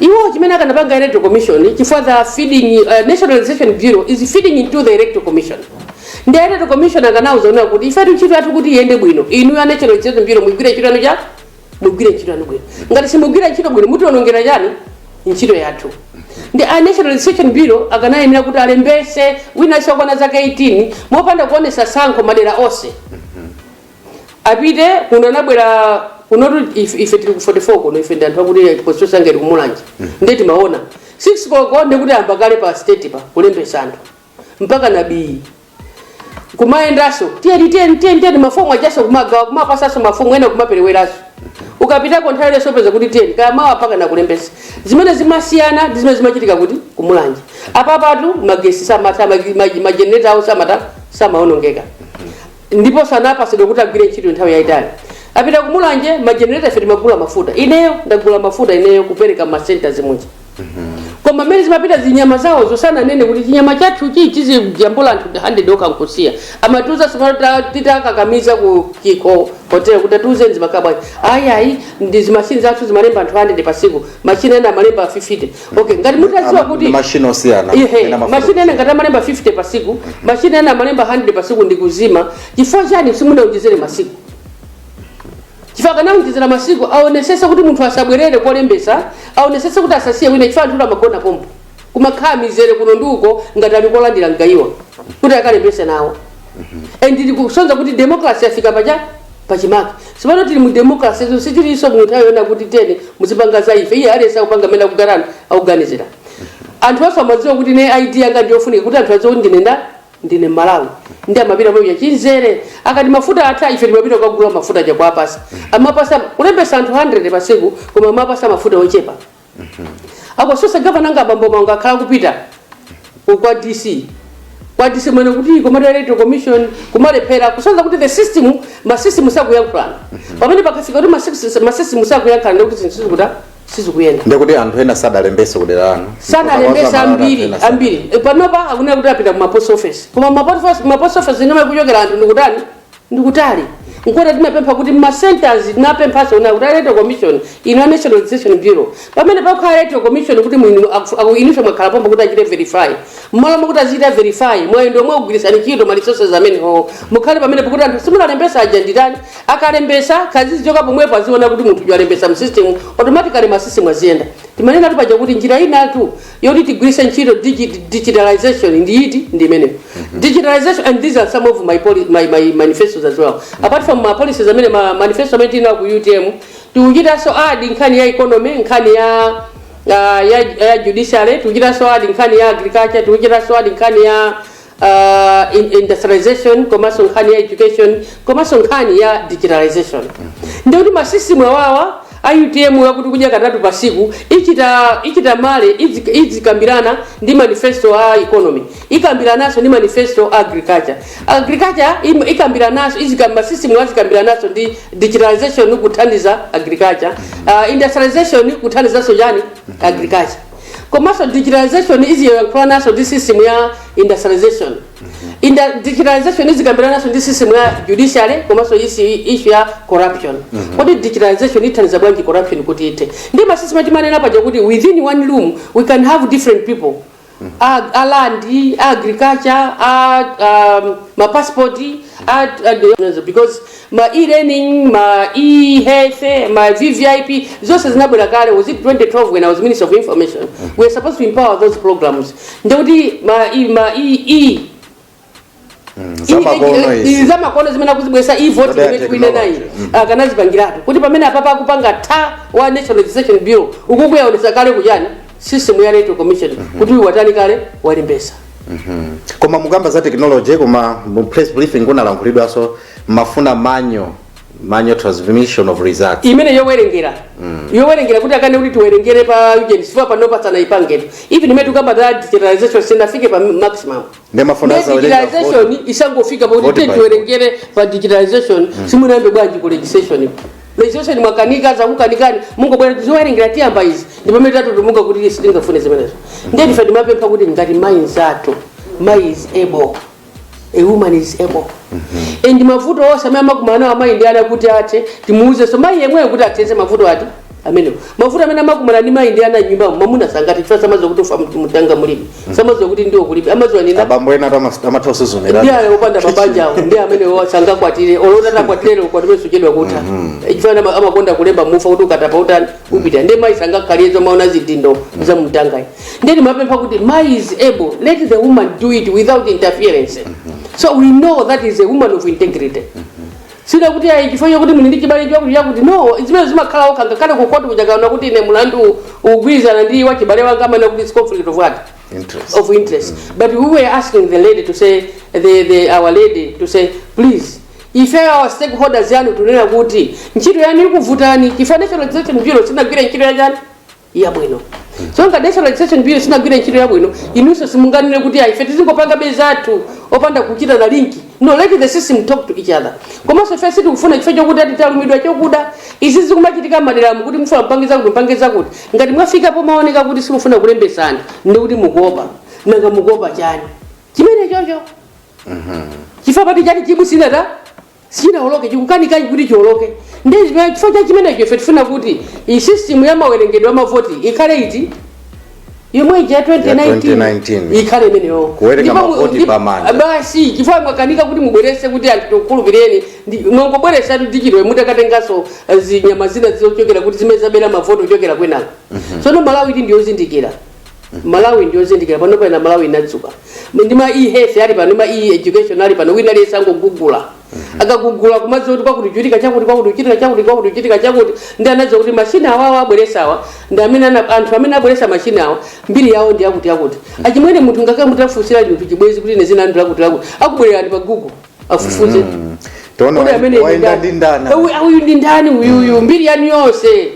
Iwo chimene akanapanga electoral commission chifukwa they are feeding uh, National Registration Bureau is feeding into the electoral commission. Ndi electoral commission akanauza zonena kuti ifetu ntchito yathu kuti iyende bwino. Inu a National Registration Bureau mugwire ntchito yanu cha mugwire ntchito yanu bwino. Ngati simugwira ntchito bwino mutionongera chani ntchito yathu. Ndi a National Registration Bureau akanayenera kuti alembese wina wokwana zaka 18 mopanda kuonesa sankho madera onse. apite kuno anabwera kunotu if- ife tili ku 44 kuno ife ndi anthu akuti constituency ngati tili kumulanje ndiye timaona 6 koloko ndikuti ayamba kale pa state pa kulembesa anthu mpaka nabii kumayendaso tiyeni tiyeni tiyeni tiyeni mafomu ajaso kumagawa kumapasaso mafomu ena kumapereweraso ukapitako nthawi ino zopeza kuti tiyeni kaya mawa mpaka anakulembesa zimene zimasiyana ndi zimene zimachitika kuti kumulanje apapatu magesi samatha majeneta awo samatha samaonongeka ndipo sanapasidwe kuti agwire ntchito nthawi yayitali apita kumulanje majenereta ife timagula mafuta ineyo ndagula mafuta ineyo kupereka masenta zimuja koma mmene zimapita zinyama zawo osananene kuti chinyama chathuchi chizijambula anthu 100 okha nkusiya amatiuza tsopano ta- titakakamiza ku chikho hotel kuti atiuze zimakhala bwanji ayi ayi nde zimashini zathu zimalemba anthu 100 pasiku mashini ena amalemba 50 okay ngati mutaziwa kuti mashini osiyana Ihe, ena mafuta mashini ena ngati amalemba 50 pa siku mashini ena amalemba 100 pa siku ndi kuzima chifukwa chani simunaonjezere masiku chifukwa akanaonjezera masiku aonesese kuti munthu asabwerere kokalembesa aonesese kuti asasiye wina chifukwa anthu amagona pompo kumakhala mizere kuno ndi uko ngati ali kolandira mgayiwa kuti akalembese nawo and zikusonza kuti democracy yafika pacha pachimake tsopano tili mu democracy so sitiliso mu nthawi yoona kuti tiyeni muzipanga za ife iye aliyense akupanga amene akugarana akuganizira anthu onse amadziwa kuti ne id yanga ndiyofunika kuti anthu adziwe kuti ndine nda ndine Mmalawi ndi amapita pamchinzere akati mafuta atha ife timapita kukagula mafuta aja kuwapasa amapasa kulembesa anthu 100 pasiku koma amapasa mafuta ochepa akoso gavana wanga bambo Mangu akhala kupita ku- kwa dc kwa dc mwene kuti kumati electoral commission kumalephera kusonza kuti the system masystem sakuyankhulana pamene pakafika kuti masystem- masystem sakuyankhulana ndikuti zinthu sizikuta sizikuyenda ndekuti anthu ena sadalembese kudera lanu sadalembesa ambiri ambiri E, panopa akunena kuti apita ku mapost office koma mapost office- mapost office ndi komwe akuchokera anthu ndikutani ndikutali nchona tinapempha kuti ma centers tinapemphaso na kuti electoral commission inu a national registration bureau pamene pakhala electoral commission kuti inu aku- aku- inuso mwakhala pomwe kuti achite verify mmalo mokuti azichita verify mwayendo omwe gwirisani ntchito ma resources amenewo mukhale pamene pokuti anthu simunawalembesa aja aditani akalembesa kazizichoka pomwepo aziona kuti munthu uyu alembesa msystem automatically masystem aziyenda timanenatu paja kuti njira inatu yoti tigwiritse ntchito digit, digitalization ndi yiti ndi imeneyo digitalization and these are some of my, poli, my, my manifestos as well apart from ma policies amene ma manifesto amene tinawo ku utm tikuchitanso adi nkhani ya economy nkhani ya uh, ya, ya judiciary tikuchitanso adi nkhani ya agriculture tikuchitanso adi nkhani ya uh, in- industrialization komanso nkhani ya education komanso nkhani ya digitalization ndikuti masisimu awawa a utm akuti kudya katatu pa siku ichita ichita marry idzi- idzikambirana ndi manifesto a economy ikambirananso ndi manifesto a agriculture agriculture im- ikambirananso izika- masisimu azikambirananso ndi digitalization kuthandiza agriculture uh, industrialization kuthandizanso chani agriculture komanso digitalization iziyankhulananso ndi system ya industrialization and digitalization izikambirananso ndi system ya judiciary komanso isi- issue ya corruption kodi digitalization ithandiza bwanji corruption kuti ithe ndi masystem timanena paja kuti within one room we can have different people a, a land a agriculture a um, mapassport a, a, because ma e-learning ma e-health ma vvip zonse zinabwera kale was it 2012 when i was minister of information we are supposed to empower those programs ndiye kuti ma e, ma e, e zamakono izi zamakono zimene akuzibweretsa e-vote Zodaya imene tikuine nayi technology. akanazipangiratu kuti pamene apapa akupanga ta wa national registration bureau ukukawaonetsa kale kuchani system ya electoral commission kuti uyu watani kale walembesa koma mukamba za technology koma mu press briefing kunalankhulidwanso mumafuna manual manual transmission of results imene yowerengera yowerengera kuti akane kuti tiwerengere pa ujeni chifukwa pano patsana ipangeni even imene tikamba za digitalization sinafike pa maximum Ndiye mumafuna Ndi asawerenga digitalization vote. isangofika Vote pakuti by tiwerengere pa digitalization simunayambe bwanji ku registration registration mwakanika zakukanikani mungobwera tizowerengera tiyamba izi ndi pamene tatutumuka kuti sitingafune zimenezo ndiye ife timapempha kuti ngati mayi nzathu mayi is able a woman is able mm -hmm. and mavuto onse amene amakumana nawo amayi ndi ana kuti athe timuuzenso mayi yemweyo kuti athetse mavuto ati amenewo mavuto amene amakumana ndi mayi ndi ana nyumbamo mamuna sangathe chifukwa samaziwa kuti ufa mutanga mulibe mm. samaziwa kuti ndiwo kulibe amaziwa ndi ena abambo ena amatha kusuzumira ndi ayo opanda mabanja awo ndi amene sangakwatire olo atakwatira ukwatire suchedwa kutha mm-hmm. eh, chifukwa amakonda kulemba mufa kuti ukatapa utani upita mm. ndi mayi sangakhale azimaona zidindo mm. za mumtanga ayi ndiye timapempha kuti mai is able let the woman do it without interference so we know that she is a woman of integrity sitikuti ayi chifukwa chakuti muli ndi chibale chakuti chakuti no zimenezo zimakhalako ngakhale kukoti judge akaona kuti ine mlandu ugwirizana ndi wa chibale wanga amanena kuti it's conflict of what Interest. of interest but we were asking the lady to say the, the, our lady to say please ife ma stakeholders yanu tunena kuti ntchito yanu ikuvutani chifukwa national registration bureau sinagwira ntchito yake chani yabwino so ngati national registration bureau sinagwire ntchito yabwino inunso simunganene kuti ayi ife tizingopanga bay zathu opanda kuchita na linki no let the system talk to each other komanso ife sitikufuna chifukwa chokuti ati talumidwa ndi chokuda izi zikumachitika madera mu kuti mufuna mpangitsa kuti mpangitsa kuti ngati mwafika pomaoneka kuti simufuna kulembesa anthu ndi kuti mukuopa nanga mukuopa chani chimene chocho chifukwa pati chati chibusina sichinawoloke chikukanika kuti chiwoloke ndi chimene- chifukwa cha chimenecho ife tifuna kuti iyi system ya mawerengedwe a mavoti ikhale ili yomwe ija 2019 2019. ikhale imeneyo Kuwerenga Ndipo mu- mavoti ndi- pamanja. basi chifukwa mwakanika kuti mubwerese kuti anthu tikukhulupireni ndi- mwangobweresa tichidwe mutakatenganso eh, zinyama zina zochokera kuti zimene zabera mavoti ochokera kwinako tsono malawi ili ndiyozindikira malawi ndiyozindikira panopa ena malawi inadzuka ndi ma e-health ali pano ma e-education ali pano wina aliyense angogugula akagugula kumadziwa kuti kwakuti kuchitika chakuti kwakuti kuchitika chakuti kwakuti kuchitika chakuti ndi anadziwa kuti mashini awawa abweresawa ndi amene ana- anthu amene abweresa mashini awa mbiri yawo ndi yakuti yakuti achimwene munthu ngakhale mutafunsira chinthu chibwezi kuti ine dzina ndi lakuti lakuti akubwererani pa google afufuze mm. uyu ndi ndani uyuyu mm. mbiri yanu yonse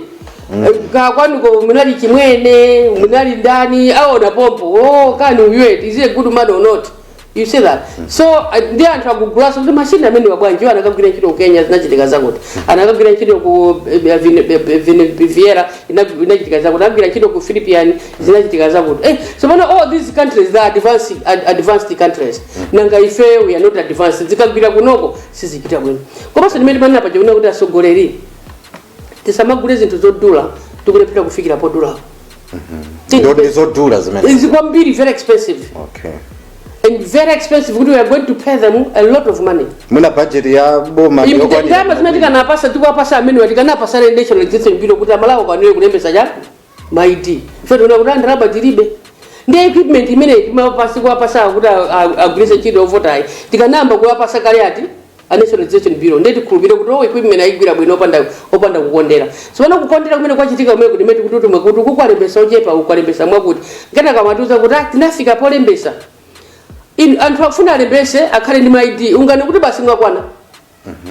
mm. eh, kwanuko munali chimwene munali ndani aona pompo oh, kani uyu he is a good man or not you see that mm. so uh, ndi anthu akugulanso kuti mashini amene abwera nawo anakagwira ntchito kukenya zinachitika zakuti mm. anakagwira ntchito ku eh, eh, viera inachitika zakuti anagwira ntchito ku philippines zinachitika zakuti eh, so all these countries they are advanced, ad, advanced countries nanga ifeyo we are not advanced zikagwira kunoko sizichita bwino komanso ndimene timanena paja kunena kuti atsogoleri tisamagule zinthu zodula tikulephera kufikira podulapo Nde ndi zodula zimene izi kwambiri very expensive okay and very expensive kuti we are going to pay them a lot of money mwina budget ya boma ndi yokwanira. ndalama zina tikanapasa tikuwapasa amene tikanapasana national registration bureau kuti amalawi akwanire kulembesa chani ma ID ife tiona kuti ah ndalama tilibe ndi equipment imene timapatsa kuwapasa kuti a- a- agwiritse ntchito ovotayi tikanayamba kuwapasa kale ati a national registration bureau ndiye tikhulupire kuti o equipment ayigwira bwino opanda opanda kukondera si pano kukondera kumene kwachitika kumene kuti imene tikuti timve kuti kukwalembesa ochepa kukwalembesa mwakuti ngati akamatiuza kuti ah, tinafika polembesa inu anthu afuna alembese akhale ndi ma ID unganene kuti basi mwakwana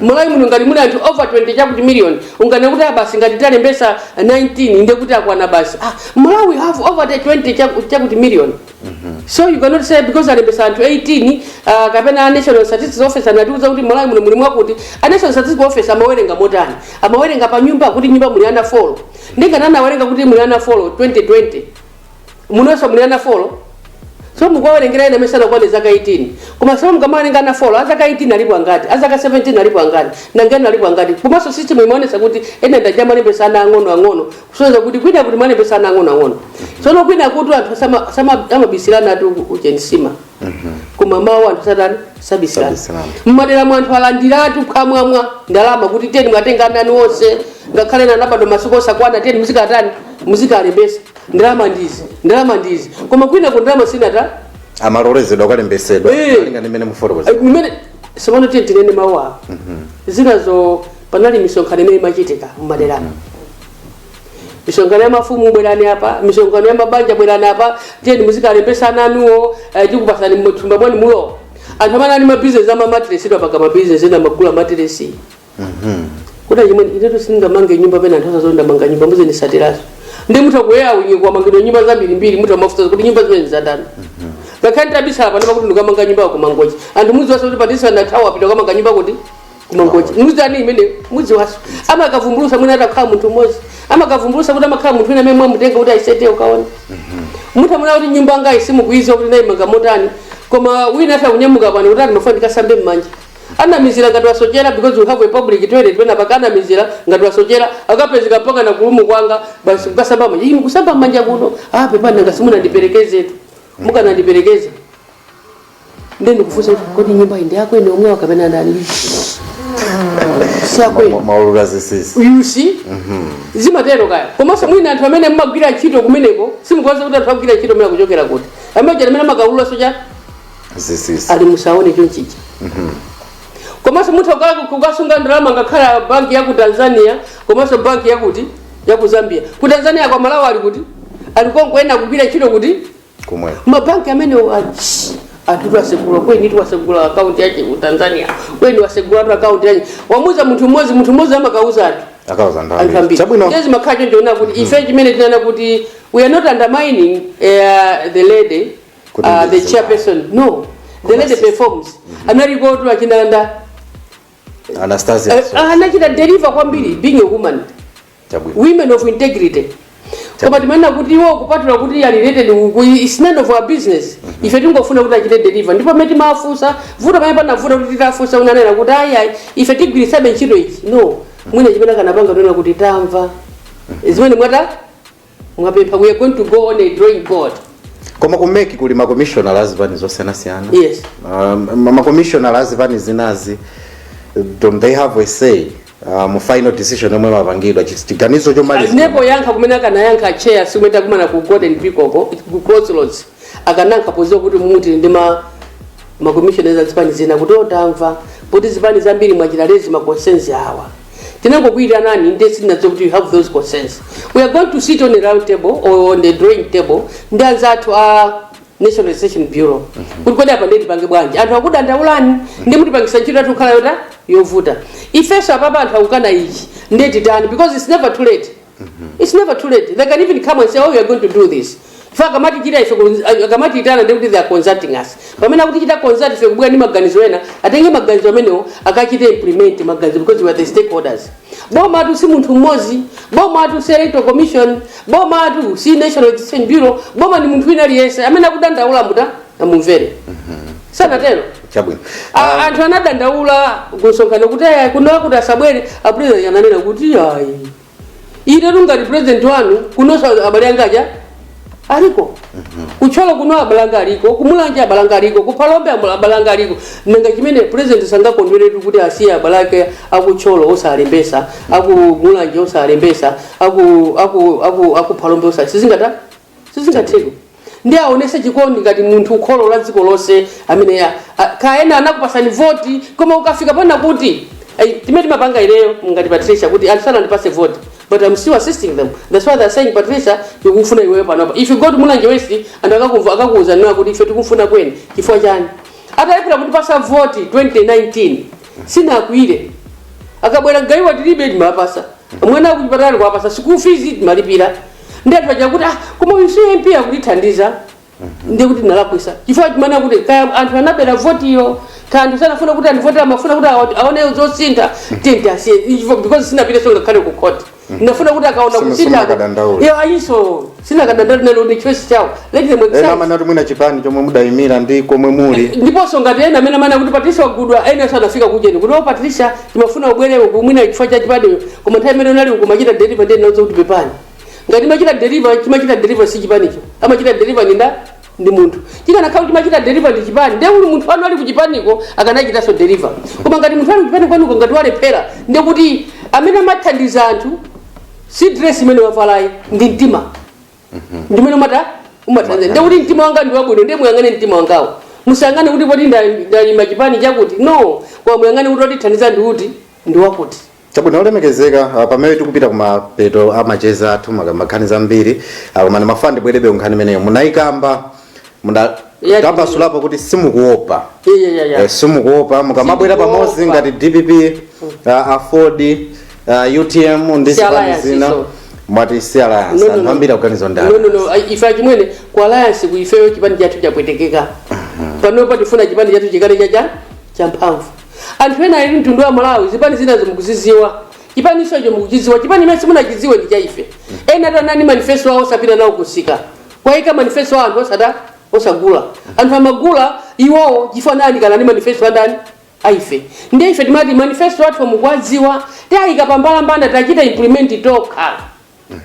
malawi muno ngati muli anthu over 20 chakuti million unganene kuti ah basi ngati talembesa 19 nde kuti akwana basi ah, malawi we have over 20 chaku- chakuti million so you cannot say because alembesa anthu 18 uh, kapena a national statistics office anatiuza kuti malawi muno muli mwakuti a national statistics office amawerenga motani amawerenga pa nyumba kuti nyumba muli ana 4 ndi ngati anawerenga kuti muli ana 4 2020 munonso muli ana folo so mukuwawerengera ena amene sanakwane zaka 18 koma so mukamawerenga ana folo azaka 18 alipo angati azaka 17 alipo angati nangani alipo angati komanso system imaonesa kuti ena ndija amalembesa ana ang'ono ang'ono kusonyeza kuti kwina kuti amalembesa ana ang'ono ang'ono sono kwina kuti anthu sama- sama- amabisilana ati uchemsima koma kumamawu anthu satani sabisilana Sabisilana. mmadera mu anthu alandiratu kamwamwa ndalama kuti tiyeni mwatenga ananu onse ngakhale anabadwa masiku osakwana tiyeni muzikatani muzikalembesa ndalama ndizi ndalama ndizi koma kwinako ndalama sinathe amalolezedwa kukalembesedwa Eh. malinga ndi mmene mufotokoza Eh, imene sopano tiyeni tinene mawu awo zinazo panali misonkhano imene imachitika mmaderamo misonkhano ya mafumu bwerani apa misonkhano ya mabanja bwerani apa tiyeni muzikalembesa ana anuwo eh, tikupasani mthumba mwanu umo anthu amene ali mabizinesi a matiresi mpaka mabizinesi ena amagula matiresi kuti achimwene inetu sindingamange nyumba pena anthu adziwa ndamanga nyumba mudzandisatirazo ndi mutha kuyaona kwamangidwa nyumba zambirimbiri mutha mafunsa kuti nyumba zimene ndizatani ngakhale ndabisala panopa kuti ndikamanga nyumba ya kumangochi anthu mudziwaso kuti patisa ndathawa ndapita kukamanga nyumba kuti kumangochi mudzi wanji imene mudziwaso amakavumbulusa mwina atakhala munthu mmodzi amakavumbulusa kuti amakhala munthu wina amene mwamutenga kuti ayesete ukaona mutha kuona kuti nyumba ngati simukuiziwa kuti ndayimanga motani koma wina atha kunyamuka pano kuti ndimafuna ndikasambe mmanja anamizila ngati wasochela because we have a public toilet pena pake anamizila ngati wasochela akapezeka mpakana kurumu kwanga basi mukasamba mmanja inu mukusamba mmanja kuno ah pepani nanga simunandiperekezetu mukanandiperekeza ndiye nkufunsa kuti kodi nyumbayi ndi yako iwe yomwe kapena ndani si akwanu amaulula zinsinsi you see zimatero kaya komanso mwina anthu amene mmagwira ntchito kumeneko simukuwadziwa kuti anthu agwira ntchito ameneyi akuchokera kuti amene amene amakaulula zocha zinsinsi ayi musaone chonchicha komanso mutha kuka- kukasunga ndalama ngakhale banki ya ku tanzania komanso banki yakuti ya ku zambia ku tanzania koma amalawi ali kuti ali konko ena kugwira ntchito kuti kumwe mabanki amenewo achi anthu atsegula ujeni watsegula akaunti yache ku tanzania ujeni watsegulatu akaunti yache wamuza munthu mmodzi munthu mmodzi amakauza anthu akauza anthu ndalama ambiri chabwino ambiri izi zimakhala choncho kuti ife chimene timanena kuti we are not undermining uh, the lady uh, the chairperson no the lady performs mm-hmm. analikotu akina nda anastasia eh, ah, anachita deliver kwambiri mm. being a woman women of integrity koma timanena kuti iwo kupatula kuti ali related uku is none of our business mm-hmm. ife tingofuna kuti achite deliver ndipo pamene timafunsa vuto pamene panavuta nkuti titafunsa ananena kuti ayi ife tigwiritsabe ntchito ichi no mm-hmm. mwina chimene akanapanga kunena kuti tamva mm-hmm. zimene mwata mwapempha we are going to go on a drawing board koma ku mec kuli makomishonala a zipani zosiyanasiyana Yes. um, ma- makomishonala a zipani zinazi don't they have a say uh, mu final decision yomwe imapangidwa Chi- chiganizo chomaliza nde poyankha kumene akanayankha chair tsiku limene takumana ku golden peacock ku crossroads akanayankha podziwa kuti mumu tili ndi ma makomishonera a zipani zina kuti o tamva kuti zipani zambiri mwachita raise ma concerns awa tinangokuyitanani nde sitinadziwa kuti you have those concerns we are going to sit on a round table or on the drawing table ndi anzathu a national registration bureau kuti kodi apa nde tipange bwanji anthu akudandaulani nde mukutipangisa ntchito yathu kukhala yota yovuta ifenso apapa anthu akukana ichi nde titani because it's never too late its never too late they can even come and say oh we are going to do this ife akamatichita ife kun- ah, akamatiitana nde kuti they are consulting us pamene akutichita consult ife kubwera ndi maganizo ena atenge maganizo amenewo akachite implement maganizo because we are the stakeholders bomatu si munthu mmodzi bomatu si electoral commission bomatu si national registration bureau boma ndi munthu wina aliyense amene akudandaula mbuta amumvere sanatero chabwino A- anthu anadandaula kumsonkhano kuti aya kuno kuti asabwere apulezidenti ananena kuti ayi inetu ngati pulezidenti wanu kunonso abale anga aja aliko ku thyolo kuno abale anga aliko ku mulanje abale anga aliko ku phalombe ambo- abale anga aliko nanga chimenecho pulezidenti sangakondwere tu kuti asiye abale ake a ku thyolo osalembesa a ku mulanje osalembesa aku- aku- aku- a ku phalombe osali sizingata sizingatheke nde aonese chikondi ngati munthu ukholo la dziko lonse amene ya- a- kaya sanakupasani voti koma ukafika poona kuti "Ai, zimene timapanga ineyo ngati patricia kuti anthu sanandipase voti but i'm still assisting them that's why they're saying patricia tikufuna iweyo panopa if you go to mulanje west anthu akakumva akakuuza nawo kuti ife tikufuna akweni chifukwa chani atalephera kutipasa voti 2019 sanakwiye akabwera kaya tilibe amatipasa mwana ali kuchipatala kuwapasa school fees amatilipira ndiye anthu aja kuti ah, koma uyu si mp akutithandiza ndiye kuti ndinalakwisa chifukwa ndimaona kuti kaya anthu anabera votiyo kaya anthu sanafuna kuti andivotere amafuna kuti awa- aone zosintha then ndi asiye Ivo- because sinapite so ngakhale ku court ndinafuna kuti akaone Sima- kusintha simakadandaula. Yeah, ayiso sinakadandaula nawo ndi choice chawo let them ena exercise amene ati mwina chipani chomwe mudayimira ndi komwe muli ndiponso ngati ena amene amanena kuti patricia wagulidwa ena sanafika kujeni kuti o patricia timafuna ubwere uku mwina chifukwa cha chipanicho koma nthawi imene unali uku umachita deliver ndiye ndinawauza kuti pepani ngati ndimachita deliver chimachita deliver si chipanicho amachita deliver ndi nda ndi munthu chikanakhala kuti chimachita deliver ndi chipani ndiye kuti munthu wanu ali kuchipaniko akanachitanso deliver koma ngati munthu ali kuchipani kwanuko ngati walephera ndiye kuti amene amathandiza anthu si dress imene wavalayi ndi mtima ndi umene umata umathandiza ndiye kuti mtima wanga ndi wabwino ndiye muyang'ane mtima wangawo musayang'ane kuti poti nda- ndayima chipani chakuti no koma muyang'ane kuti wotithandiza ndi uti ndi wakuti chabwino olemekezeka ah, pamene tikupita kumapeto a macheza athu maka- nkhani ndi zambiri koma ndimafuna ndibwerebe kunkhani imeneyo munayikamba Muna- Yeah, tambasulapo kuti simukuopa Yeah, yeah, yeah, yeah. Eh, simukuopa mukamabwera Simukuopa. pamodzi ngati dpp uh, aford uh, utm ndi Si zipani alliance zina izo. mwati si alliance No, no, anthu no. ambiri akuganiza ndani No, no, no. Ai- ife achimwene ku alliance ku ifeyo chipani chathu chapwetekeka panopa tifuna chipani chathu chikhale cha cha champhamvu anthu ena ali mtundu wa malawi zipani zinazo mukuzidziwa chipani icho mukuchidziwa chipani chimene simunachidziwe ndi cha ife ena tanani manifesto awo sapita nawo kumsika kukaika manifesto a anthu osada osagula anthu amagula iwowo chifukwa anafananako ndi manifesto andani aife ndiye ife timati manifesto athu mukuwadziwa tayika pambalambanda tachita implement tokha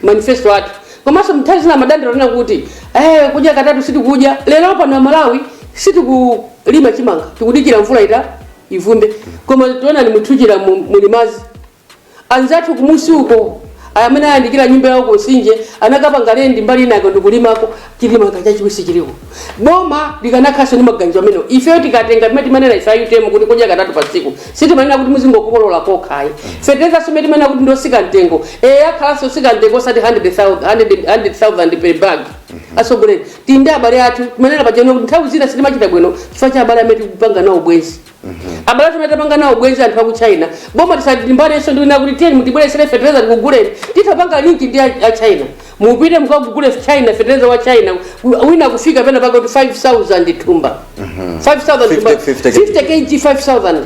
manifesto athu komanso nthawi zina madandaulo tinena kuti eh, kudya katatu sitikudya lero pano amalawi sitikulima chimanga tikudikira mvula ita ivumbe koma taonani mumtsinje wa Shire mu- muli madzi Anzathu kumunsi uko amene ayandikira nyumba yawo ku Nsinje anakapanga lendi mbali inayo ndikulimako chimanga chachiwisi chiliko. Boma likanakhalanso ndi maganizo amenewo. Ifeyo tikatenga ndimene timanena ife a UTM kuti kudya katatu pa tsiku. Sitimanena kuti muzingokolola kokha ayi. Fetereza nsomene timanena kuti ndi otsika mtengo. Eh akhalanso otsika mtengo osati 100,000 100 100,000 per bag. Atsogoleri athu ndi abale athu timanena pachano kuti nthawi zina sitimachita bwino chifukwa cha abale amene tikupanga nawo ubwenzi. abale athu amene tapanga nawo ubwenzi anthu aku china boma tisalimbanenso ndiwina kuti tiyeni mutibweretsere fetereza tikuguleni titapanga linki ndi a a china mupite mukagule china fetereza wa china wina kufika pena pake kuti 5000 thumba 5000 thumba 50, 50 kg 5000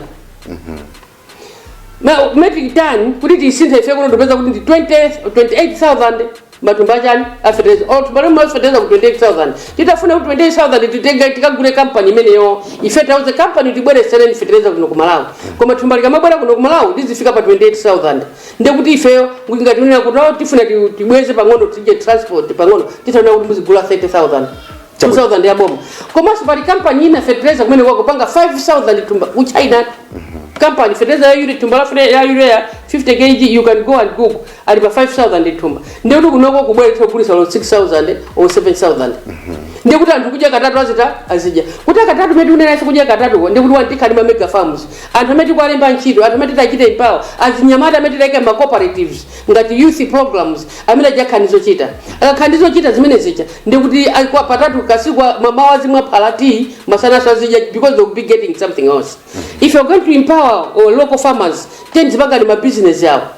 Ma- metric ton kuti tisinthe ife kuno tipeza kuti ndi 20 28000 matumba achani afeteleza or thumba la feteleza ku 28000 titafuna ku 28000 titenga tikagule kampani imeneyo ife tiwauze kampani tibweretsereni feteleza kuno ku malawi koma thumba likamabwera kuno ku malawi lizidzafika pa 28000 ndekuti ifeyo ngati tikunena kuti oh, tifuna ti- tibweze pang'ono tiike transport pang'ono titanena kuti muzigula 30000 2000 ya boma komanso pali kampani ina feteleza kumene akupanga 5000 thumba ku china kampani feteleza ya urea thumba la fete- ya urea ya 50 kg you can go and google ali pa 5000 thumba ndiye kuti kunoko kubweretsa kugulitsa 6000 or 7000 ndiye kuti anthu kudya katatu azita azidya katatu mmene tikunenanso kudya katatuko ndiye kuti wina tikhala ndi ma mega farms anthu amene tikuwalemba ntchito anthu amene titachita empower azinyamata amene titaika ma cooperatives ngati youth programs amene adzakhala ndi zochita akakhala ndi zochita zimene zija ndiye kuti adya katatu patsiku mmawa azimwa phala tea masananso azidya because they will be getting something else if you're going to empower our local farmers then azipanga ma business yawo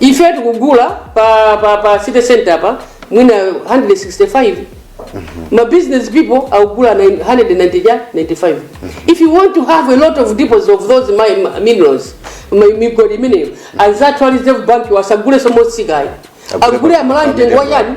ife tikugula pa, pa, pa city center pa mwina 165 ma business people akugula 195 if you want to have a lot of deposits of those ma, ma minerals ma migodi imeneyo anzathu a reserve bank asagulenso motsikamo Agule agule pa- amalawi pa mtengo wa medium. chani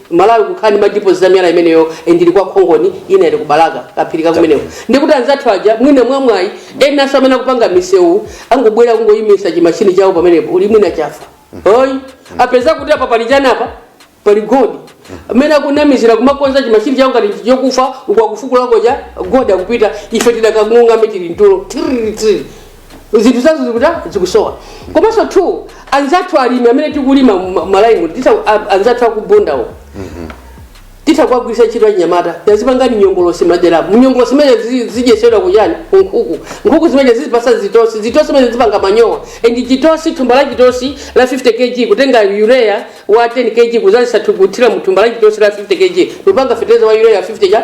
malawi kukhala ndi madipoziti amiyala imeneyo eh, ndili kwa khongoni ina ili ku Balaka kaphiri kakumeneko ndikuti anzathu aja mwina mwamwayi enanso amene akupanga misewu angobwera kungoyimisa chimashini chawo pamenepo uli mwina chafa oyi apeza kuti apa pali chani apa pali godi amene akunamizira kumakonza chimashini chawo ngati ndi chokufa uku akufukulako kaja godi akupita ife tidakang'ung'ame tili mtulo Tiriri, tiriri. zinthu zathu zikutha zikusowa komanso two anzathu alimi amene tikulima mu- malayimu titha a- anzathu aku Bundawo titha kuwagwiritsa ntchito anyamata yazipangani nyongolosi madera nyongolosi zimene zi- zidyetsedwa kuchani kunkhuku nkhuku zimene zizipatsa zitosi zitosi zimene zipanga manyowa and chitosi thumba la chitosi la 50 kg kutenga urea wa 10 kg kudzaza kuthira mu thumba la chitosi la 50 kg kupanga fetereza wa urea 50 cha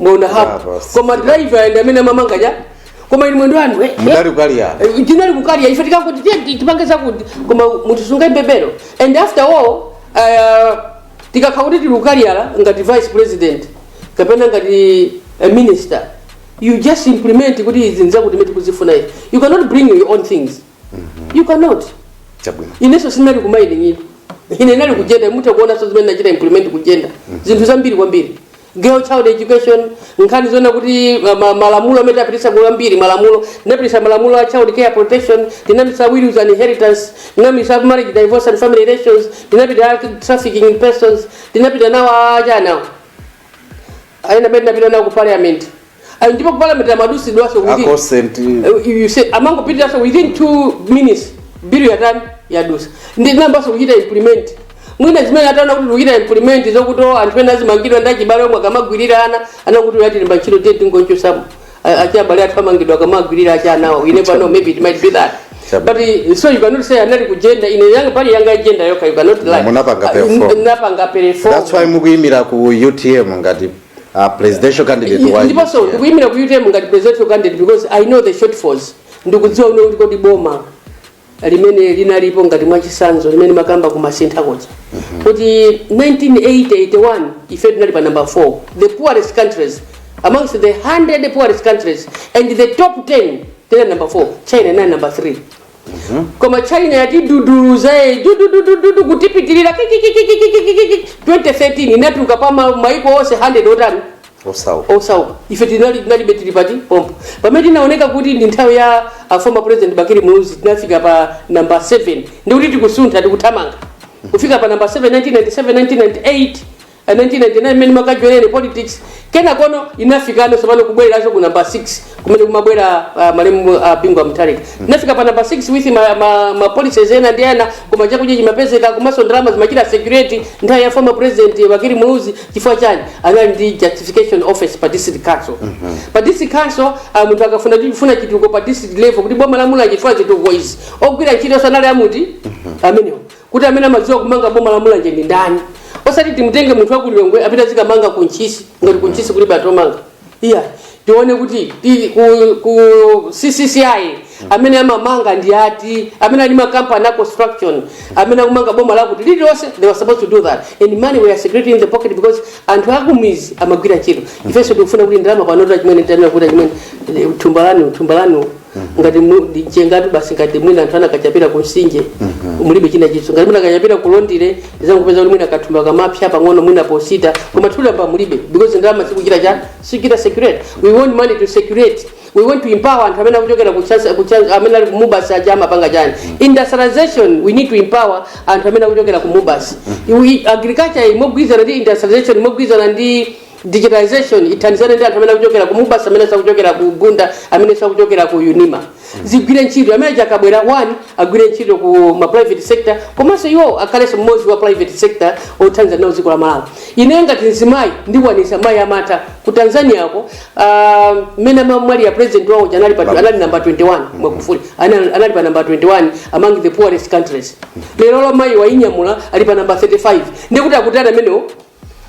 mwaona hapo Bravo. koma driver ndi amene amamanga chani koma inu mwendo wanu eh, eh. mudali ku Kaliya Eh, tinali kukalya ife tikangoti tiye ti- tipange zakuti koma mutisungire mbendera and after all uh, tikati kuti tili kukalyala ngati vice president kapena ngati a minister you just implement kuti izi nzakuti imene tikuzifuna ife you cannot bring your own things you cannot chabwino inenso sinali ku mining ine ndinali ku jenda mutakuonanso zimene nachita implement ku jenda zinthu zambiri kwambiri girl child education nkhani zoona kuti ma- ma- malamulo amene tapitisa ndi ambiri malamulo tinapitisa malamulo a child care protection tinapitisa wills and inheritance tinapitisa marriage divorce and family relations tinapita trafficking in persons tinapita nawo a chani awa a jenda amene tinapita nawo ku parliament And ndipo ku parliament amadutsidwanso kuti akosent Uh, you say amangopitanso within two minutes bill yatani yadusa ndinayambanso kuchita implement mwina zimene ataona kuti kuchita implement zokuti oh, anthu ena azimangidwa ndi achibale omwe akamagwirira ana anakuti uyu atiyambira ntchito tiye tingochotsamo achibale athu amangidwa akamagwirira achina anawo we never know maybe it might be that Chabwino. but uh, so you cannot say ndinali ku jenda ine yanga pali yanga agenda yokha you cannot lie Munapanga Uh, perform. napanga perform that's why mukuyimira ku utm ngati a presidential candidate wa ndiponso UTM. ndikuyimira ku utm ngati presidential candidate because i know the shortfalls ndikudziwa kuti kodi boma limene linalipo ngati mwachisanzo limene ndimakamba ku Masintha koja kuti 1981 ife tinali pa number 4 the poorest countries amongst the 100 poorest countries and the top 10 tinali number 4 china inali number 3 koma china yatiduduluza ye dududududu kutipitirira kikikikikikikikiki 2013 inatuluka pa ma- maiko onse 100 otani osauka osauka ife tinali tinalibe tili pati pompo pamene tinaoneka kuti ndi nthawi ya a former president bakili muluzi tinafika pa namba 7 ndikuti tikusuntha tikuthamanga kufika pa namba 7 1997 1998 a 1999 mmene makajoyerere politics kenakono inafikano tsopano kubwereranso ku number 6 kumene kumabwera uh, malemu uh, bingu wa mutharika inafika pa number 6 with ma, ma, ma policies ena ndi ena koma chakudya chimapezeka komanso ndalama zimachita circulate nthawi ya former president bakili muluzi chifukwa chani anali ndi justification office pa district council pa district council uh, munthu akafuna kufuna chitukuko pa district level kuti boma la mula chifukwa chitukuko izi ogwira ntchito sanali amuti amenewo kuti amene amadziwa kumanga boma la mulanje ndi ndani osati timutenge munthu wakulilongwe apite azikamanga ku ntchisi ngati ku ntchisi kulibe anthu omanga iya tione kuti ti- ku, ku ccci amene amamanga ndi ati amene ali makampani a construction amene akumanga boma lakuti lililonse they were supposed to do that and money were circulating in the pocket because anthu akumizi amagwira ntchito ifenso tikufuna kuti ndalama panoto achimene tanena kuti achimene thumba lanu thumba lanu ngati mu- ndi mchengatu basi ngati mwina anthu anakachapira ku msinje mulibe china chinso ngati mwina akachapira ku londire ndidzangopeza kuti mwina kathumba kamapsa pang'ono mwina posita koma ndalama mulibe because ndalama sikuchita cha sikuchita circulate we want money to circulate we want to empower anthu amene akuchokera ku chance- ku chance- amene ali ku mubas aja amapanga chani industrialization we need to empower anthu amene akuchokera ku mubas agriculture imagwirizana ndi industrialization imogwirizana ndi digitalization ithandizane ndi anthu amene akuchokera ku mubas amene akuchokera ku bunda amene akuchokera ku unima azigwira ntchito amene akabwera onse agwire ntchito ku ma private sector komanso iwo akhalenso mmodzi wa private sector othandiza nawo dziko la malawi ine ngati mzimayi ndikwanisa mayi amatha ku tanzania ko ah, mmene uh, amamwalira president wawo uja anali pa anali namba 21 magufuli anali anali pa namba 21 among the poorest countries lero lo mayi wainyamula ali pa namba 35 ndikuti akutana amenewo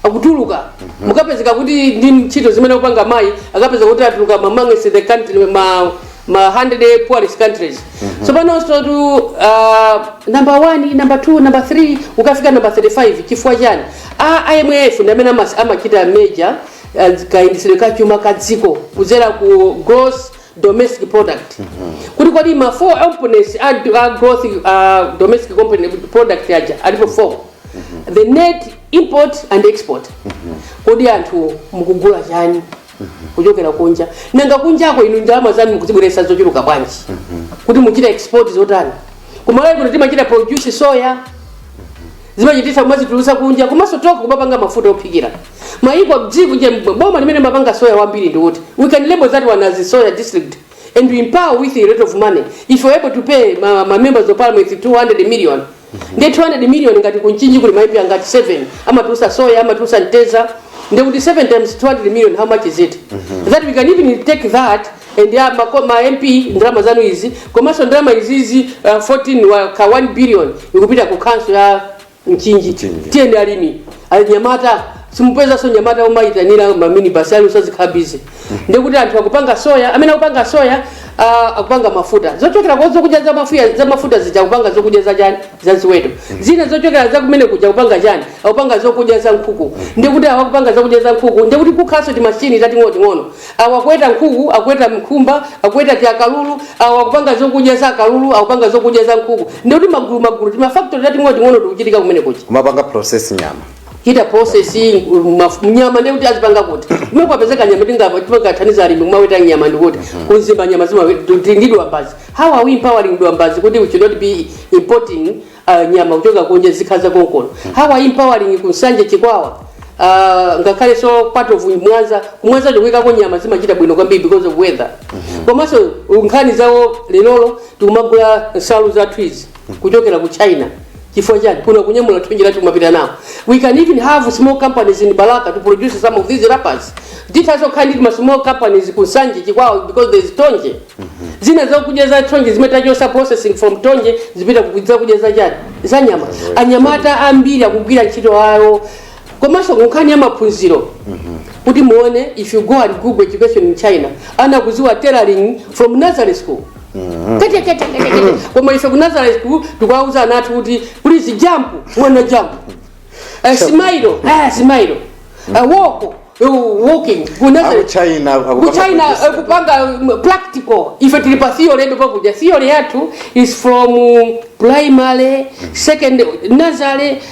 akutuluka mukapezeka kuti ndi ntchito zimene akupanga mayi akapezeka kuti atuluka amongst the country ma ma 100 poorest countries tsopanonso tu uh, number 1 number 2 number 3 ukafika number 35 chifukwa chani a imf ndi amene amas- amachita measure uh, kayendetsedwe ka chuma ka dziko kudzera ku gross domestic product kuti kodi ma 4 components a, a gross uh, domestic component product aja alipo 4 the net import and export kodi anthu mukugula chani kuchokera kunja nanga kunjako inu ndalama zanu mukuzibweresa zochuluka bwanji kuti muchita export zotani ku Malawi kuno timachita produce soya zimachititsa kumazitulusa kunja komanso toka kumapanga mafuta ophikira mayiko dziko nje mbwe- boma limene mapanga soya wambiri ndi kuti we can label that one as a soya district and we empower with a lot of money if you're able to pay ma, ma members of parliament 200 million ndi 200 million ngati ku Mchinji kuli ma MP angati 7 amatulusa soya amatulusa mteza ndi kuti 7 times 200 million how much is it that we can even take that and ya ma, ma mp ndalama zanu izi komanso ndalama izizi uh, 14 wa ka 1 billion ikupita ku khanso ya Mchinji. tiyeni alimi anyamata simupezanso anyamata omaitanira maminibasi ali onse azikhala bizi ndikuti anthu akupanga soya amene akupanga soya uh, akupanga mafuta zochokera kwa zokudya za mafuya za mafuta zija kupanga zokudya za chani za ziweto zina zochokera za kumene kuja kupanga chani akupanga zokudya za nkhuku ndikuti awa akupanga zokudya za nkhuku ndikuti kukhalaso timashini tating'onoting'ono awa akuweta nkhuku akuweta nkhumba akuweta tiakalulu awa akupanga zokudya za akalulu akupanga zokudya za nkhuku ndikuti magulu magulu timafaktori tating'onoting'ono tikuchitika kumene kuja kumapanga process nyama chita processing maf- nyama ndiye kuti azipanga kuti kumene kwapezeka nyama tingapange timakathandiza alimi kumaweta nyama ndikuti ku Mzimba nyama zima ndi Dwambazi how are we empowering Dwambazi kuti we should not be importing uh, nyama kuchoka kunja zikhala za konkuno how are we empowering ku Nsanje Chikwawa Uh, ngakhaleso part of Mwanza ku Mwanza ndikuikako nyama zimachita bwino kwambiri because of weather komanso nkhani zawo lerolo tikumagula nsalu zathu izi kuchokera ku China chifukwa chani kuno kunyamula thonje lathu kumapita nawo we can even have small companies in Balaka to produce some of these wrappers tithaso kukhala ndi ma small companies ku Nsanje Chikwawa uko because there is thonje zina zakudya za thonje zimene tachosa processing from thonje zipita ku zakudya za chani za nyama anyamata ambiri akugwira ntchito awo komanso kunkhani ya maphunziro kuti muone if you go and google education in China ana akuziwa tailoring from nursery school kete kete kete kete koma ife ku nazareth school tikwauza ana athu kuti please jump mwana jump Eh, smile eh, smile Eh, walk eh, walking ku nazareth China ku China eh, kupanga mm, practical ife tili pa theory yedu pakuja theory yathu is from primary secondary nursery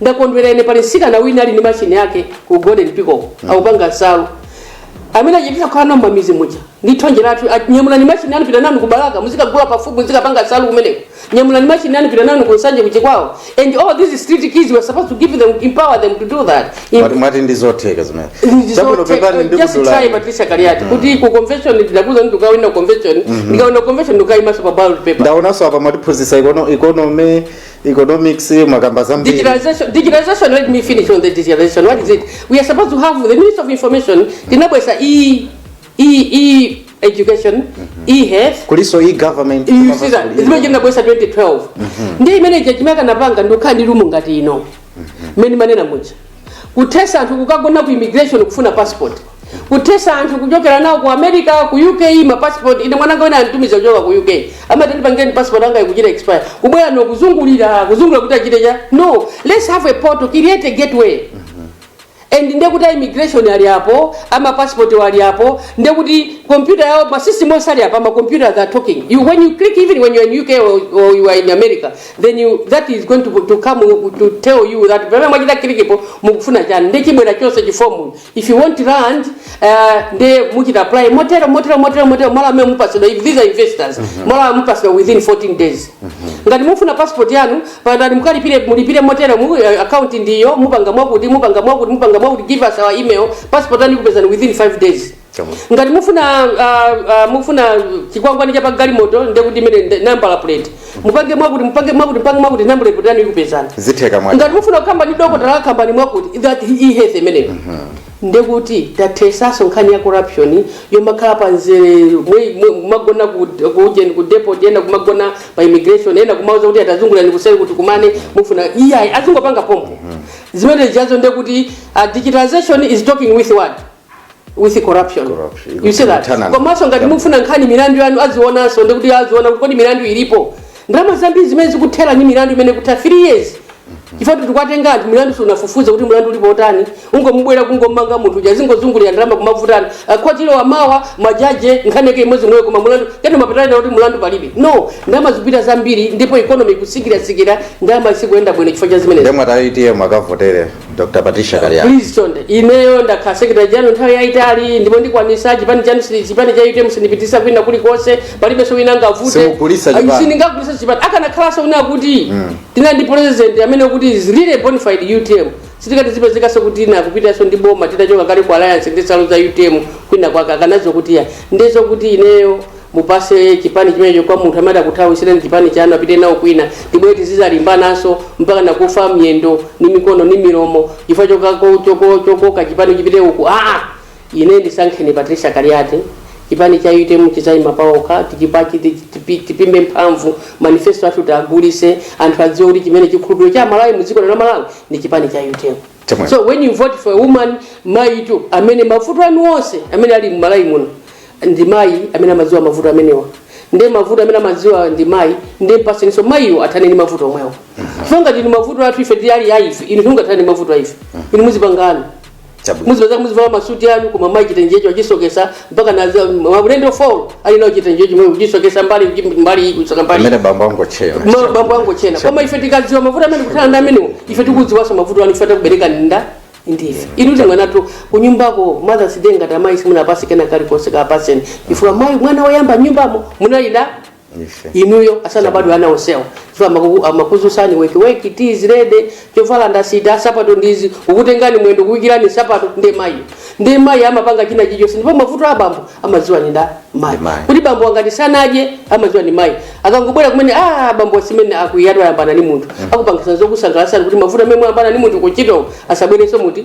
ndakondwera ine pali msikana wina ali ndi machine yake ku Golden Peacock akupanga nsalu amene achititsa kukhala nao mamiz muja ndi thonje lathu ati, nyamulani machine anu pitani nayo ku Balaka muzikagula pafupi muzikapanga nsalu kumeneko nyamulani machine anu pitani nayo ku Nsanje ku Chikwawa uko and all these street kids we're supposed to give them empower them to do that In- Mwati- mwati ndi zotheka zimene Chabwino, pepani ndikuduleni. just try Patricia Kaliati kuti ku convention ndidakuuzani kuti ndikawina convention ndikawina convention ndikaimaso pa ballot paper ndaonanso apa mwatiphunzitsa ikono- ikonomi economics mwakamba zambiri Digitalization, digitalization, let me finish on the digitalization. What is it? We are supposed to have the Minister of Information, Tinabwesa e, e, e education, e health. kuliso e government You see that? Zimene tinabwesa 2012. Ndiye imene judgment anapanga ndokhala ndi lumu ngati ino. Mmene manena muja. kuthesa anthu kukagona ku immigration kufuna passport kuthesa anthu kuchokera nawo ku america ku uk ma passport ine mwananga wina anitumiza kuchoka ku uk amati ndipangeni passport anga ikuchita expire kubwera no kuzungulira kuzungulira kuti achite cha no let's have a portal create a gateway and ndekuti a immigration ali apo ama passport ali apo ndekuti computer yawo ma system onse ali apo ama computer they are talking you when you click even when you are in UK or, or you are in America then you, that is going to, to come to tell you that pamene mwachita kilikipo mukufuna chani nde chibwera chonse chifomu if you want land uh, nde muchita apply motero motero motero motero malo amene mupasidwa if these are investors malo amene mupasidwa within 14 days ngati mufuna passport yanu pangani mukalipire mulipire motero mu eh, account ndiyo mupanga mwakuti mupanga mwakuti mupanga mwakuti give us our email passport yanu ikupezani within 5 days Chabwino. ngati mufuna ah, ah, mufuna chikwangwani cha pagalimoto ndiye kuti imene ndi nambala plate mupange mwakuti mupange mwakuti mupange mwakuti nambala plate yanu ikupezani zitheka mwa ngati mufuna kukamba ndi dokotala kambani mwakuti that e-health imeneyo ndekuti tathesaso nkhani ya corruption yomakhala pa nzere mwe- mwe- kumagona ku ku ujeni ku depot ena kumagona pa immigration ena kumauza kuti a tazungulani kuseri kuti tikumane mufuna iyayi azingopanga pompo zimene zijazo ndekuti ah, digitalization is talking with what with corruption Corruption. you see that Internal. komanso ngati Yeah. mufuna nkhani milandu yanu azionanso ndekuti aziona kuti kodi milandu ilipo ndalama zambiri zimene zikuthera ndi milandu imene ikutha 3 years chifukwa kuti tikuwatenga anthu milandu sunafufuze kuti mlandu ulipo utani ungomubwera kungomanga munthu uja zingozungulira ndalama kumavutana akhotilo amawa majaji nkhani yake imodzi yomweyo koma mlandu kena mapeto ake kuti mlandu palibe no ndalama zikupita zambiri ndipo economy ikusikirasikira ndalama isikuenda bwino chifukwa cha zimenezi nde inu a utm mukavotere dr patricia kaliati please chonde ineyo ndakhala secretary general nthawi yayitali ndipo ndikwanisa chipani chanu sili chipani cha utm sindipitisa kwina kulikonse palibenso wina angavute Simugulisa chipani. sindingagulisa chipani akanakhalanso wina kuti tina ndi president amene kuti is really a bona fide utm sitikuti zipezekanso kuti wina akupitanso ndi boma titachoka kale ku alliance ndi nsalu za utm kwina kwake akanazo kuti ya ndi zokuti ineyo mupase chipani chimenecho kwa munthu amene akuthawisireni chipani chanu apite nawo kwina tibwere tizizalimbananso mpaka nakufa miyendo ni mikono ni milomo chifukwa chokako- choko- chokoka chipani chipite uku aa ine ndisankheni patricia kaliati chipani cha utm chizayima paokha tichipachi tipimbe mphamvu manifesto athu tiagulise anthu adziwe kuti chimene chikhulupiriro cha amalawi mu dziko lino la malawi ndi chipani cha utm Chomwe. so when you vote for a woman mayitu amene mavuto anu onse amene ali mmalawi muno ndi mayi amene amadziwa mavuto amenewa nde mavuto amene amadziwa ndi mayi nde mpaseniso mayiwo athane ndi mavuto omwewo so ngati ndi mavuto athu ife tili ali aife inu simungathane ndi mavuto aife inu muzipangana Chabwino. muzipeza muzivala masuti anu koma mayi chitenjecho achisokesa mpaka na za- maulendo fo ali nacho chitenje chomwe kuchisokesa mbali uji- mbali iyi kusoka mbali amene bambo angochera Ma- bambo angochena koma ife tikadziwa mavuto amene akumana ndi amenewo ife tikudziwanso mavuto anu ife takubereka nda ndife inu ndi mwanatu kunyumbako mothers day ngati mayi simunapasi kena kalikonse kapaseni chifukwa mayi mwana woyamba nyumbamo munali nda inuyo asanabadwe ana onsewo so amaku- amakuzusani wake wake tea is ready chovala ndasita sapato ndizi kukutengani mwendo kuwikirani sapato nde mayi nde mayi amapanga china chichonse ndipo mavuto a bambo amadziwa ni nda mayi Ndi mayi. kuti bambo angati sanadye amadziwa ni mayi akangobwera kumene a bambo simene akuti atwayambana ni munthu akupangisa zokusangalasani kuti mavuto amene mwayambana ni munthu kunchito asabwerenso muti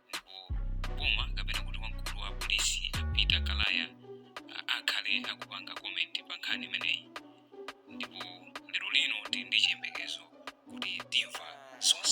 ndipo boma kapena kuti wamkulu wa polisi a peter kalaya a- akhale akupanga komenti pa nkhani imeneyi ndipo lero lino tili ndi chiyembekezo kuti timva zonse